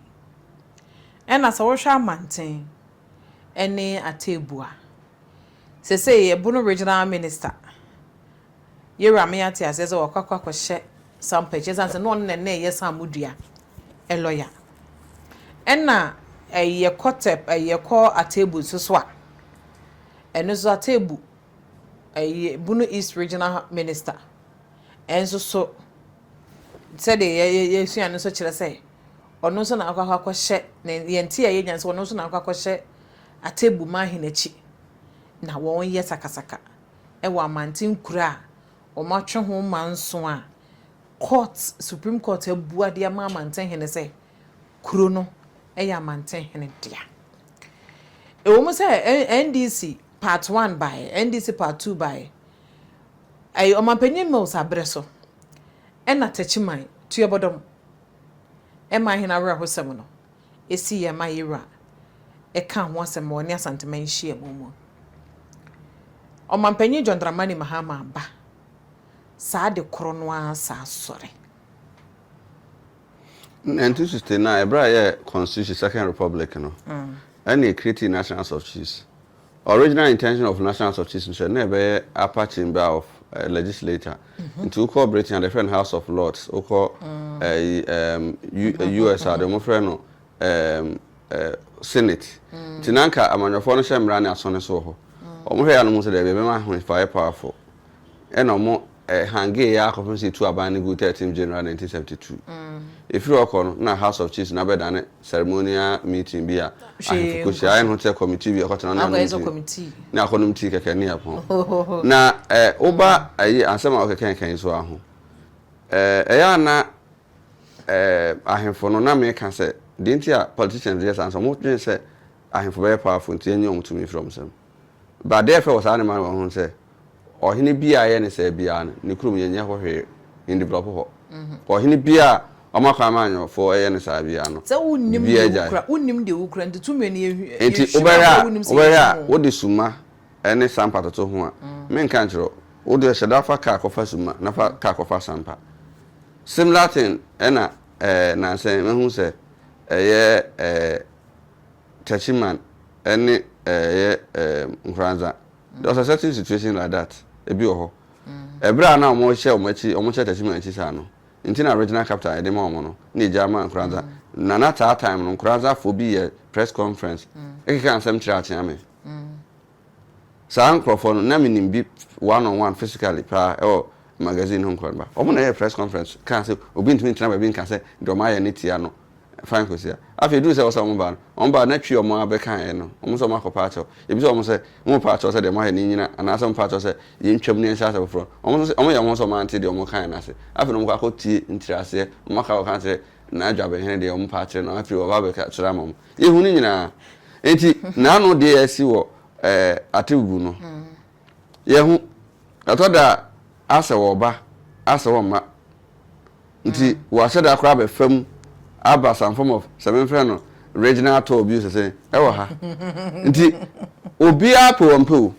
Ɛna sɛ wohwɛ amanten ne ateebua. Sesei yɛbu no Regional Minister. Yewura me ate aseɛ sɛ wakɔ akɔhyɛ sampa akyi ɛsiane sɛ na ɔno na na ɛyɛ sammo dua lɔya. Ɛna yɛkɔ tɛp yɛkɔ Atebu nso so a, ɛno nso Atebu yɛbu no East Regional Minister. Ɛnso so sɛdeɛ yɛsua no nso kyerɛ sɛ ɔno nso na akɔ akɔhyɛ, yɛn nteaeɛ nya no sɛ ɔno nso na akɔ akɔhyɛ atebu ma ahene akyi na wɔyɛ sakasaka wɔ amanten nkuro a wɔatwe ho mma nson a court, Supreme Court abua de ama amanten hene sɛ kuro no yɛ amanten hene dea. Ɛwom sɛ NDC part one baeɛ, NDC part two baeɛ, ɛyɛ Ɔmanpanyin Mills aberɛ so ɛna Takyiman tuabɔdɔm ɛma ahene awerɛhosɛm no. esi yɛn ma yɛn wura ka ho asɛm ma ɔne Asanteman nhyiamu mu. Ɔmanpanyin John Dramani Mahama ba saa de koro no ara saa sɔre. Nineteen sixty nine ɛberɛ a yɛyɛ constitution second republic no ɛna yɛ create national house of chiefs Original intention of National Association sɛ na ɛbɛyɛ upper chamber of eh, legislator. Nti wokɔ Britain a, yɛfrɛ no House of Lords. Wokɔ eh, yi, em, U- eh, US a, deɛ wɔfrɛ no em, eh, Senate. Nti na anka amanyɔfoɔ no hyɛ mmara ne asɔne so wɔ hɔ. Wɔhwɛ yɛ a no mu sɛ daabi ɛbɛma ahoefaeɛ powerful. ɛna ɔmo eh, hangee yɛ akɔpem sɛ etu aban no gu 13 January 1972. Efiri hɔ kɔ no, na House of Chiefs no abɛdane ceremonial meeting bi a Hwee ahemfo kɔ hyia. nkɔ. Ayɛ ne ho te sɛ committee bi a ɛkɔtena hɔ ne Akɔyɛ sɛ anom tea, committee. ne akɔnom tea kɛkɛ ne ɛpono. Ohohoho. Na eh, woba ayi asɛm a wokekɛnkɛn yi so ara ho, eh, ɛyɛ a na eh, ahemfo no, na meka sɛ, deɛ nti a politicians yɛ saa no sɛ, wɔdwene sɛ ahemfo bɛyɛ powerful nti yɛnnye wɔn tumi mfiri wɔn nsam. Ba dɛɛ fɛ wɔ saa nneɛma no wɔ ho sɛ ɔhene biaa ɛyɛ ne sɛɛ biaa no ne kurom yɛnyɛ hɔ hwee yɛn develop hɔ ɔhene biaa ɔma kwan ma anyɔfoɔ ɛyɛ no saa biaa no biribiaa agyae nti wobɛhwɛ a wobɛhwɛ a wode summa ɛne sampa toto ho a me nka nkyerɛ wo wo deɛ hyɛda fa car kɔ fa summa na fa car kɔ fa sampa similar thing ɛna ɛɛ nansɛn mahu sɛ ɛyɛ ɛɛ. Techiman ne ɛyɛ Nkoranza there was a certain situation like that ebi wɔ hɔ ɛberɛ a na wɔn hyɛ wɔn akyi wɔn hyɛ Techiman akyi saa no nti na regional capital yɛde ma wɔn no na egya ama Nkoranza na na saa time no Nkoranzafoɔ bi yɛ press conference ɛkeka nsɛm kyerɛ Akyeame Saa nkorɔfoɔ no na menim bi one on one physically paa ɛwɔ magazine ho nkɔrɔba. Wɔn na ɛyɛɛ press conference kaa sɛ obi ntumi ntena baabi nka sɛ deɛ wɔn ayɛ no tia no fine kɔsi a afei ɛduru sɛ ɛwɔ sɛ wɔn ba no wɔn ba na twi wɔn ara bɛka ɛɛ no wɔn sɛ wɔn akɔ paakyɛw yɛbisa wɔn sɛ mo paakyɛw sɛ deɛ mo ayɛ no nnyina anaasɛ mo paakyɛw sɛ yɛntwam na yɛnhyɛ ase foforɔ wɔn sɛ wɔn yɛ wɔn ho sɛ wɔn ante deɛ wɔn kaeɛ no ase afei na wɔn kɔ akɔ tie ntiraseɛ wɔn aka akɔka akyerɛ Na dwabɛhɛn deɛ wɔmpa akyerɛ no, afei wɔba bɛka kyerɛ ama mo. Yɛhu no nyinaa. Enti n'ano deɛ asi wɔ ɛɛ atebubu no. Yɛhu. Ɛtɔ da a, asɛ wɔba, asɛ wɔmma. Nti wɔahyɛ da koraa abɛfa mu aba some form of sɛ memfrɛ no regional tour bi o sɛ sɛn ɛwɔ ha. Nti obiara pɛ wɔn pɛ o.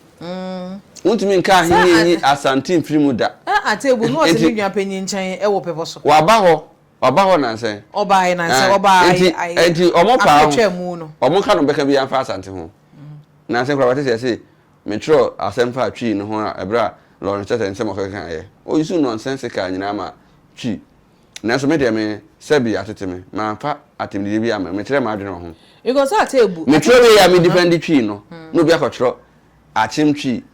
Wontumi nka ahenni nyi Asante mfiri mu da. Atebubu no wɔte me nuapanyin nkyɛn wɔ bepɔ so. Wɔaba hɔ Ɔba hɔ nansa yi. Ɔba ayɛ nansa yi, ɔba ayɛ ayɛ. Enti ɔmo paa ho. Akotwa mu no. Ɔmo ka no bɛka bi anfa Asante ho. Nansa koraa wate sɛ yɛse me twerɛ asɛm faa Twi no ho a ɛberɛ a Lawrence kyerɛ sɛ nsɛm ɔkeka yɛ. O use nonsensical nyinaa ma Twi. Nanso me deɛ me sɛbi atete me, manfa atemdidie bi ammrɛ, mekyerɛ m'adwene wɔ ho. Because ate abu. Me twerɛ wei a me defendi Twi no na obi akɔtwerɛ akyem Twi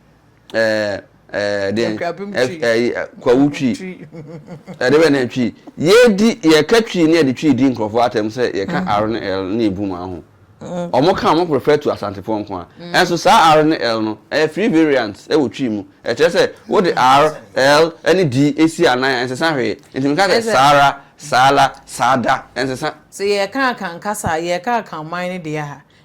kwawu twi ɛde bɛ na ɛtwi yɛdi yɛka twi ne ɛde twi di nkurɔfoɔ atɛm sɛ yɛka mm. r ne l ne ebu mu aho mm. ɔmo ka ɔmo prefer to asantefoɔ nko a mm. ɛnso saa r ne l no ɛyɛ free variant ɛwɔ twi mu ɛkyerɛ sɛ wode r l ne d esi anan ɛnsesa hwee ntumi ka sɛ saara saala saada ɛnsesa. sɛ yɛka akankasa yɛka akanman ne deɛ ha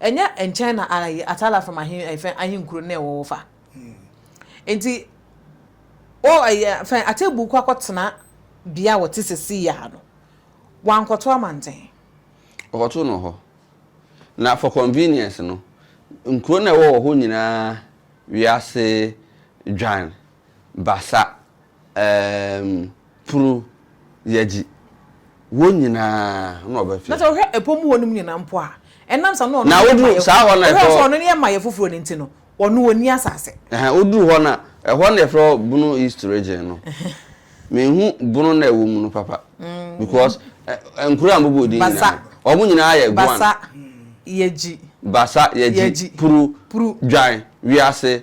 Ɛnyɛ nkyɛn na Ar yɛ Atarafam ahemfã ahenkuro no na ɛwɔ hɔ fa? Enti O ɛyɛ fɛn Atebu kɔ akɔtena bea a wɔte seesei ara no, wankɔto amanten. Ɔkɔtoo no wɔ hɔ. Na for convenience no, nkuro no a ɛwɔ wɔ hɔ nyinaa wiase dwan Basa, eem, Pru, Yadzi, hɔn nyina nna ɔbɛfrɛ. Na sɛ ɔhwɛ po mu hɔnom nyina mpo a, ɛnam sɛ na ɔno nye mayɛ foforo, ɔhwɛ sɛ ɔno nye mayɛ foforo no ntsi no, ɔno onnyi asaase. Ɛhɛn, odur hɔ no a, ɛhɔ na yɛfrɛ hɔ Bono East Region no. Mennhu Bono no a ɛwɔ mu no papa, because nkurow a mobɔɔ dzin nyina no, hɔn nyina yɛ Gwan. Basa, Yadzi. Basa, Yadzi, Pru, Dwan, Wiase.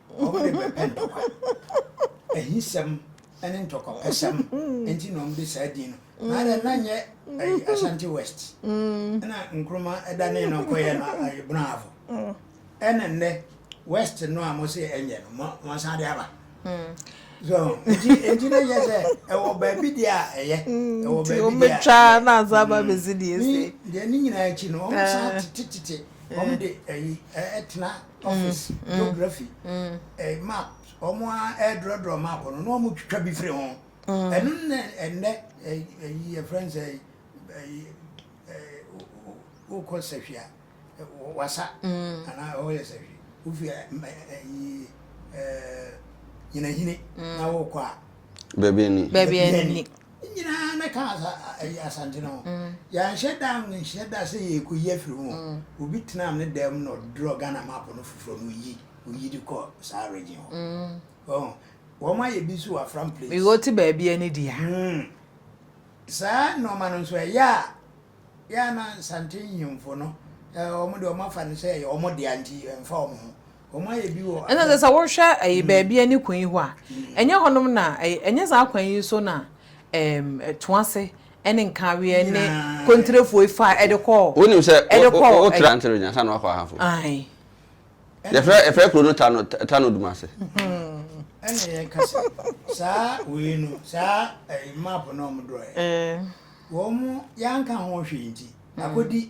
wɔde bɛpɛ ntɔkwa, ahisɛm ne ntɔkwapɛsɛm nti na wɔde saa din no. Na dɛ na nyɛ ɛyi Ashanti West na Nkrumah danee no kɔyɛ no ɛyi Bravo. Ɛna nnɛ West no a mo se ɛnyɛ no mo mo san de aba. So nti nti na yɛ sɛ ɛwɔ baabi deɛ a ɛyɛ ɛwɔ baabi deɛ a ɛyɛ. Nti wɔn bɛ twa na asan ba bɛ si deɛ ɛsɛ. Deɛ ne nyinaa akyi no wɔn san tete tete wɔn de ɛyi ɛtena toffees, geography, eh, maps, wɔn a ɛredrɔdrɔ map no na wɔn twitwa bi firi ho. Ɛno na ɛnɛ ɛyi yɛ fɛn sɛ ɛyi wokɔ sɛhwi a wasa anaa ɔyɛ sɛhwi wofi ɛyi ɛɛ nyinahini na wokɔ a. Baabi ani. Baabi ani. Ne nyinaa na ka asa ayi Asante no ho. Yɛanhyɛ da annhyɛ da sɛ yɛrekɔyi afiri ho o. Obi tenaa ne dan mu na ɔdrɔ Ghana map no foforɔ na ɔyi ɔyi de kɔ saa region hɔ. Wahu? Wɔayɛ bi nso wɔ Afram Plains. Mewɔ te baabi a ne di a. Saa nnoɔma no nso ɛyɛ a, yɛ a na Nsante nhemfo no, wɔn deɛ wɔafa no sɛ ɛyɛ wɔn dea nti ɛmfa wɔn ho. Ɛnna sɛ sɛ wohwɛ ɛyi baabi a ne kwan yi hɔ a, ɛnyɛ hɔnom na ɛyɛ ɛnyɛ saa kwan yi so na ɛɛm Toase ɛne Nkaweɛ ne Kontirefoɔ yi faa ɛde kɔɔ Wonim sɛ ɛde kɔɔ wo tra Ntere nya ansa na wakɔ Ahanfo. Ae. Yɛfrɛ yɛfrɛ kuro no Tano Tano Dumase. Ɛna yɛn ka sɛ saa wei no saa ɛyi map na wɔn drɔɛ. Wɔn yɛanka ho hwee nti akɔdi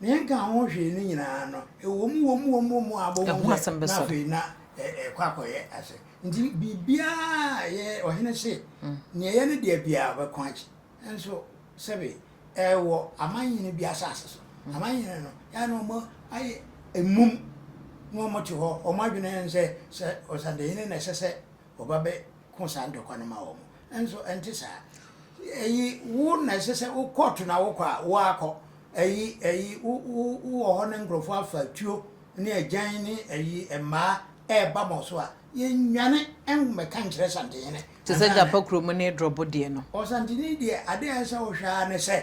Nea ɛnka ho hwee no nyinaa no, ɛwom, wom, wom, wom a abom ho sɛ na afei na ɛkɔ akɔyɛ ase. Nti biribiara a yɛ ɔhene se, nea ɛyɛ ne dea biara ɔbɛko akyi. Nanso sɛbe ɛwɔ amannyene bi asase so, amannyene no yɛ a na wɔn ayɛ mmum na wɔte hɔ, wɔn adwene ne sɛ, sɛ ɔsadehene na ɛsɛ sɛ Wɔba bɛko saa ntɔkwa no ma wɔn. Nanso ɛnte saa. Ayi, wo na ɛsɛ sɛ wo kɔɔto na wokɔ a, wo ara kɔ. Ayi, ayi, wo, wo, wowɔ hɔ na nkurɔfoɔ afa atuo ne agyan ne ayi, mmaa ɛreba ma wo so a, yɛnnwane mmɛka nkyerɛ Santehene. Te sɛ Gyapa kurom ne Drɔbo deɛ no. Ɔsantehene deɛ, adeɛ a ɛsɛ sɛ wohwɛ ara ne sɛ,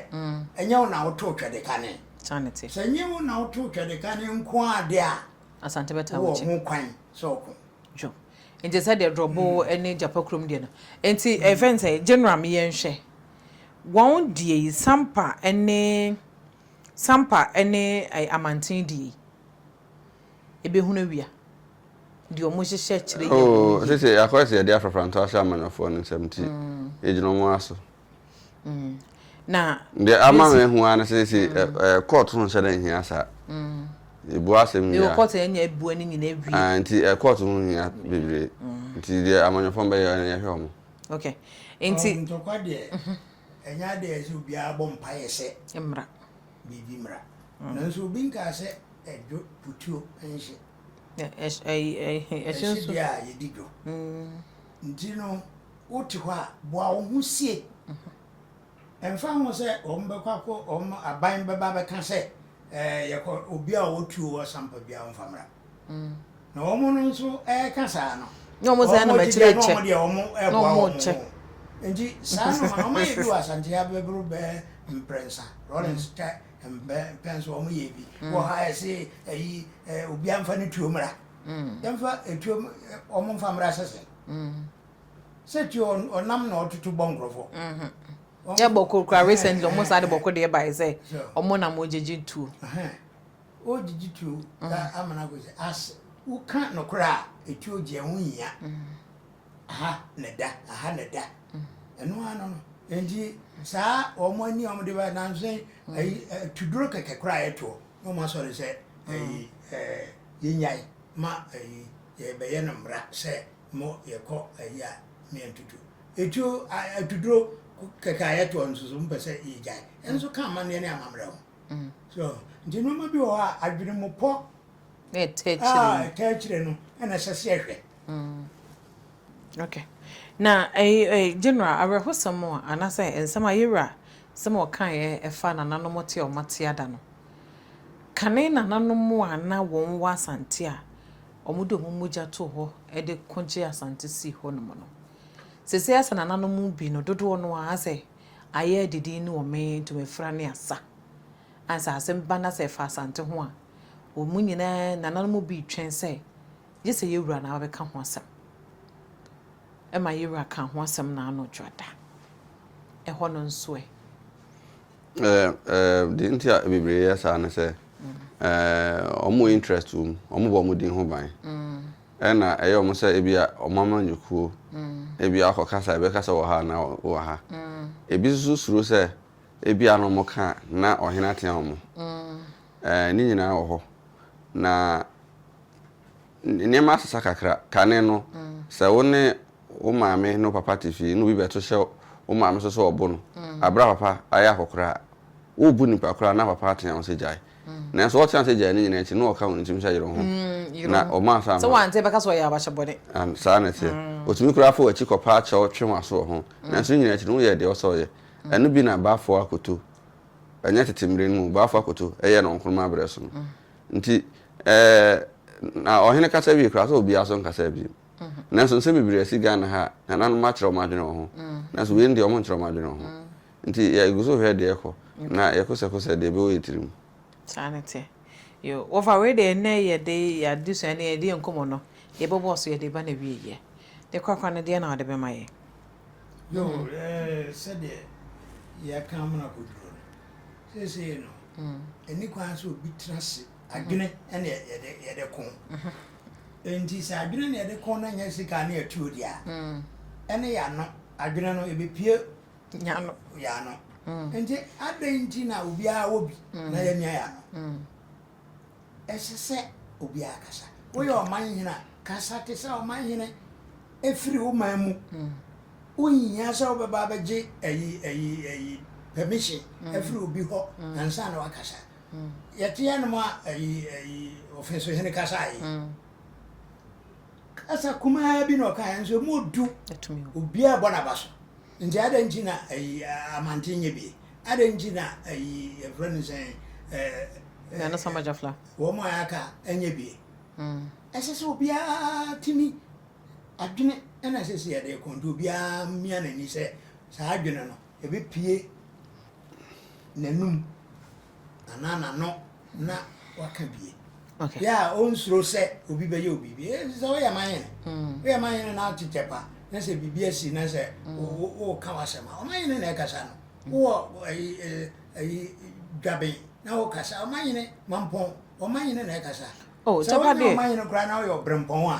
ɛnyɛ wo na wotoo Twɛdekane. Saa na ɛte. Sɛ ɛnyɛ wo na wotoo Twɛdekane nko ara deɛ a, Asante bɛtaa w'akyi. wowɔ ho kwan sɛ woko. Dwo. Nkyɛ sɛ deɛ drɔbo ne gyapa kurom deɛ no nti ɛfɛn sɛ general me yɛn hwɛ wɔn deɛ yi sampa ne sampa ne amanten deɛ yi ɛbɛhunu awia deɛ wɔn hyehyɛ kyerɛ yɛ oh sɛ sɛ akɔyɛ sɛ yɛde afrafra nto ahyɛ amanyɔfoɔ no nsɛm nti mm. yɛgyina wɔn aso deɛ ama me hu ara no sɛ sɛ kɔɔto ho nhyɛ dɛ nhia saa ɛbu asɛm wia nti kɔɔto ho hia bebree nti deɛ amanyɔfam bɛyɛ no yɛhwɛ ɔmo okay nti ntɔkwa deɛ ɛnyɛ adeɛ ɛsɛ obiara bɔ mpaeɛ sɛ mmra biribi mmra nanso obi nkaa sɛ ɛdwo putuo nhye ɛhye deɛ a yɛdi dwo nti no wote hɔ a, boa wo ho sie. Ɛmfa ho sɛ wɔbɛkɔ akɔ wɔn aban bɛba bɛka sɛ ɛɛ yɛkɔ obi a ɔwɔ tuo wɔ sampa bi a wɔmfa mmra. Mm. Na wɔn no nso ɛreka saa no. Na wɔn sɛ na mɛkyerɛ kyɛ. Wɔn deɛ wɔn ɛboa wɔn ho. Nti saa no wɔn ayɛ bi wɔ Asante abɛboro bɛɛ mprɛnsa Rollins tɛ mpɛn so wɔn yɛ bi mm. wɔ ha ɛsɛ ɛyi obi anfa ne tuo mmra. Mm. Yɛmfa etuo wɔn mfa mmra sɛsɛ. Mm. sɛ ti ɔnam na ɔtoto bɔ nkurɔfoɔ. yɛ bɔkɔ kura recently ɔmo saa de bɔkɔ deɛ bae sɛ ɔmo nam ɔgyegye tuo. ɔgyegye tuo ka amana kɔ sɛ as woka nokorɛ a etuo gye ɛho hia aha na da aha na da ɛno ano no nti saa ɔmo ani ɔmo de ba nanso ayi tuduro kɛkɛ koraa ɛtoɔ na ɔmo asɔre sɛ ayi ɛɛ yɛnyae ma ayi yɛbɛyɛ no mmara sɛ mo yɛ kɔ ayi a me antutu etuo a atuduro kɛkɛ a yɛtoɔ nso so mpɛ sɛ yɛgyae ɛno nso ka amanneɛ ne amammerɛ ho mm. so nti nneɛma bi wɔ hɔ a adwene mu pɔ a ɛtɛ akyire no ɛna ɛsɛ sɛ yɛhwɛ mm. okay na eh, eh, general awerɛhosɛm a anaasɛ nsɛm a yɛwura sɛm ɔkaeɛ ɛfa nananom te a ɔmate ada no kane nananom a na wɔn wɔ asante a Wɔde wɔn mogya too hɔ de ko gyee Asante sii hɔnom no. Seesei Asa nananom mu bi no dodoɔ no ara sɛ ayɛ adidin ne wɔmee ntomafira ne asa. Ɛne sɛ asɛm ba na sɛ ɛfa Asante ho a, wɔn nyinaa nananom mu bi retwɛn sɛ gye sɛ Yawura na wabɛka ho asɛm. Ɛma Yawura kaa ho asɛm n'ano dwoada. Ɛhɔ no nso ɛ? Deɛ nti a bebree yɛ saa ne sɛ, wɔn interest wɔ mu, wɔbɔ wɔn din ho ban. Ɛna ɛyɛ wɔn sɛ ebi a wɔn amanyɔkuo, ebi a akɔ kasa, ebi kasa wɔ ha anaa wɔ ha. Ebi nso suro sɛ ebi a na wɔn ka na ɔhene atea wɔn. Ne nyinaa wɔ hɔ na. Nneɛma asesa kakra. Kane no, sɛ wo ne wo maame ne wo papa te fie na obi bɛto hyɛ wo maame so sɛ ɔbo no bere a papa ayɛ akɔkoraa a, worebu nipa koraa na papa ateɛ wo sɛ gyae. Nanso ɔteɛ wo sɛ gyae no nyinaa akyi no, ɔka wo ne tirim sɛ yere wo ho na ɔma asan ho. Sɛ woante a, bɛka sɛ ɔyɛ abakyɛ bɔne. Aane, saa na ɛteɛ. Ɔtumi koraa fa w'akyi kɔpa akyɛ wo, twe w'aso wɔ ho. Nanso ne nyinaa akyi no, woyɛɛ deɛ ɔsɛ ɔyɛ. Ɛno bi na Bafo Akoto, ɛnyɛ tete mmere no mu o, Bafo Akoto, yɛɛ no wɔ Nkrumah berɛ so no. Nti, ɛɛ, na ɔhene kasa wie koraa, sɛ obiara nso nkasaa bio. Nanso nsɛm bebree asi Ghana ha a, nananom akyerɛ wɔn adwene wɔ ho. Nanso wei no deɛ, wɔnkyerɛ wɔn adwene wɔ ho. Nti yɛgu so hwɛ deɛ ɛrekɔ, na yɛkosɛkosɛ deɛ ɛbɛwɔ yɛn tirim. Saa na ɛteɛ. Yo, wɔfa wei deɛ, ɛnnɛ yɛde yɛn adesua ne yɛn nkɔmmɔ no, yɛbɛbɔ so, yɛde reba n'awieeɛ. Ne korakora no, deɛn na wɔde bɛma yɛn? Yo, ɛɛ, sɛdeɛ yɛaka amena kɔduro no. seesei no, ɛni kwan sɛ obi tena ase. Adwene na yɛde yɛde ko. Enti sɛ adwene na yɛde ko na nyɛ sika ne atuo deɛ a, ɛne yɛano adwene no ɛbɛpie yɛano. yɛano. Nti adɛn nti na obiara wɔ bi na yɛnyɛ yɛano? Ɛsɛ sɛ obiara kasa. Woyɛ ɔmanhene a, kasa te sɛ ɔmanhene. Efiri wo man mu. Wonhia sɛ wobɛba abɛgye ayi ayi ayi permission afiri obi hɔ ansa na wakasa. Yɛte anom a ayi ayi ɔfensohene kasaeɛ. Kasa kumaa bi na ɔkaeɛ nso ɛmu ɔdu. Obiara bɔ n'aba so. Nti adɛn nti na ayi amanten nyɛ bi? Adɛn nti na ayi yɛfrɛ no sɛn? Nana Samagya Fla. Wɔn a aka nyɛ bi. Ɛsɛ sɛ obiara tumi adwene na ɛsɛ sɛ yɛde kɔ nti obiara mia n'ani sɛ saa adwene no Ebepue n'anom anaa n'ano na waka bie. Okay. Yɛ a ɔnsuro sɛ obi bɛyɛ obi bi. Ɛyɛ sɛ woyɛ ma yɛn. Mm. Woyɛ ma yɛn na atekyɛ pa na sɛ biribi asi na sɛ mm. woka w'asɛm a ɔma yɛn na ɛkasa no. Mm. Wowɔ ayi ayi dwaben na wokasa ɔma yɛn mampɔn ɔma yɛn na ɛkasa. Oh, sɛ wonyɛ ɔma yɛn koraa na woyɛ ɔbrɛmpɔn a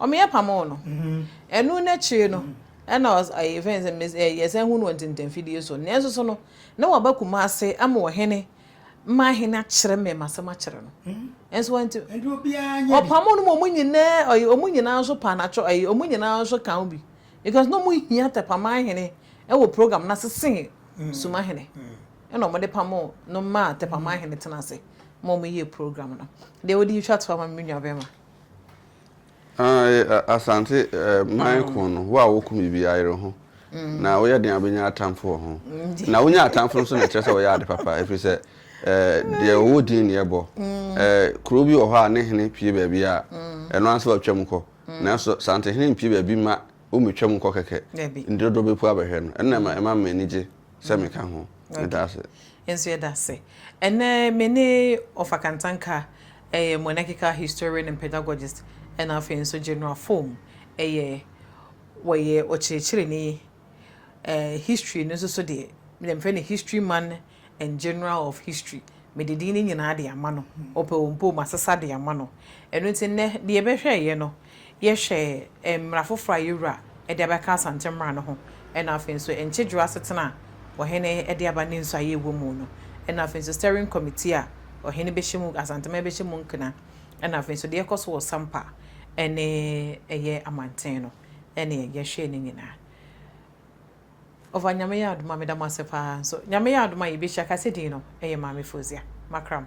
Ɔmeɛ pamoo no. Ɛno no akyire no na ɔs ɛɛ yɛfrɛ no sɛ mes ɛɛ yɛsan hunu no wɔ ntintanfidie so. Nanso so no, na waba Kumase ama ɔhene ma ahene akyerɛ me m'asɛm akyerɛ no. Nanso wanti. Nti obiara nyɛ bi. Ɔpamoo no ma wɔn nyinaa ɔyi wɔn nyinaa nso pa n'akyɛ ɛyi wɔn nyinaa nso ka ho bi because na wɔhia Tɛpamanhene wɔ program no ase sen Sumahene. Ɛna wɔde pamoo no maa Tɛpamanhene tena ase ma wɔyɛɛ program no. Deɛ wode yi twa to ama me me nuabɛrima. Asante man ko no, wo a woko me bi ayere ho, na woyɛ den a wobɛnya atamfo wɔ ho. Na wonya atamfo nso na ɛkyerɛ sɛ wɔyɛ ade papa, ɛfiri sɛ deɛ ɔwɔ din ne ɛbɔ. Kuro bi wɔ hɔ a ne hene pue baabi a, ɛno ara sɛ watwam kɔ. Nanso Santehene mpue baabi mma wɔmmɛtwam nkɔ kɛkɛ, nti dodoɔ bɛpu abɛhwɛ no. Ɛno na ɛma m'ani gye sɛ meka ho. Meda ase. Yɛn nso yɛda ase. Ɛnnɛ me ne Ɔfa Kantanka, ɛyɛ monarchical historian and pedagogist, ɛna afei nso General Foam, ɛyɛ wɔyɛ ɔkyerɛkyerɛni, ɛɛ history no nso so deɛ mede mfrɛ no history man and general of history. Mede din no nyinaa de ama no. Ɔpɛ ɔmpɛ o, masesa de ama no. Ɛno nti nnɛ deɛ yɛbɛhwɛ yɛ no, yɛhwɛ mmara foforɔ a yɛn Wura de abɛka Asante mmara no ho, ɛna afei nso nkyedworɔ asetena a Ɔhene de aba ne nsɔ a yɛwɔ mu no, ɛna afei nso Steering Committee a Ɔhene bɛhyɛ mu, Asanteman bɛhyɛ mu nkena, ɛna afei nso deɛ ɛkɔ so wɔ Sampa ne ɛyɛ Amanten no, ɛne yɛhwɛ ne nyinaa. Ɔfa Nyame yɛ adom a meda mo ase paa nso Nyame yɛ adom a yɛbɛhyia, kasedin no yɛ Maame Fozia. Makram.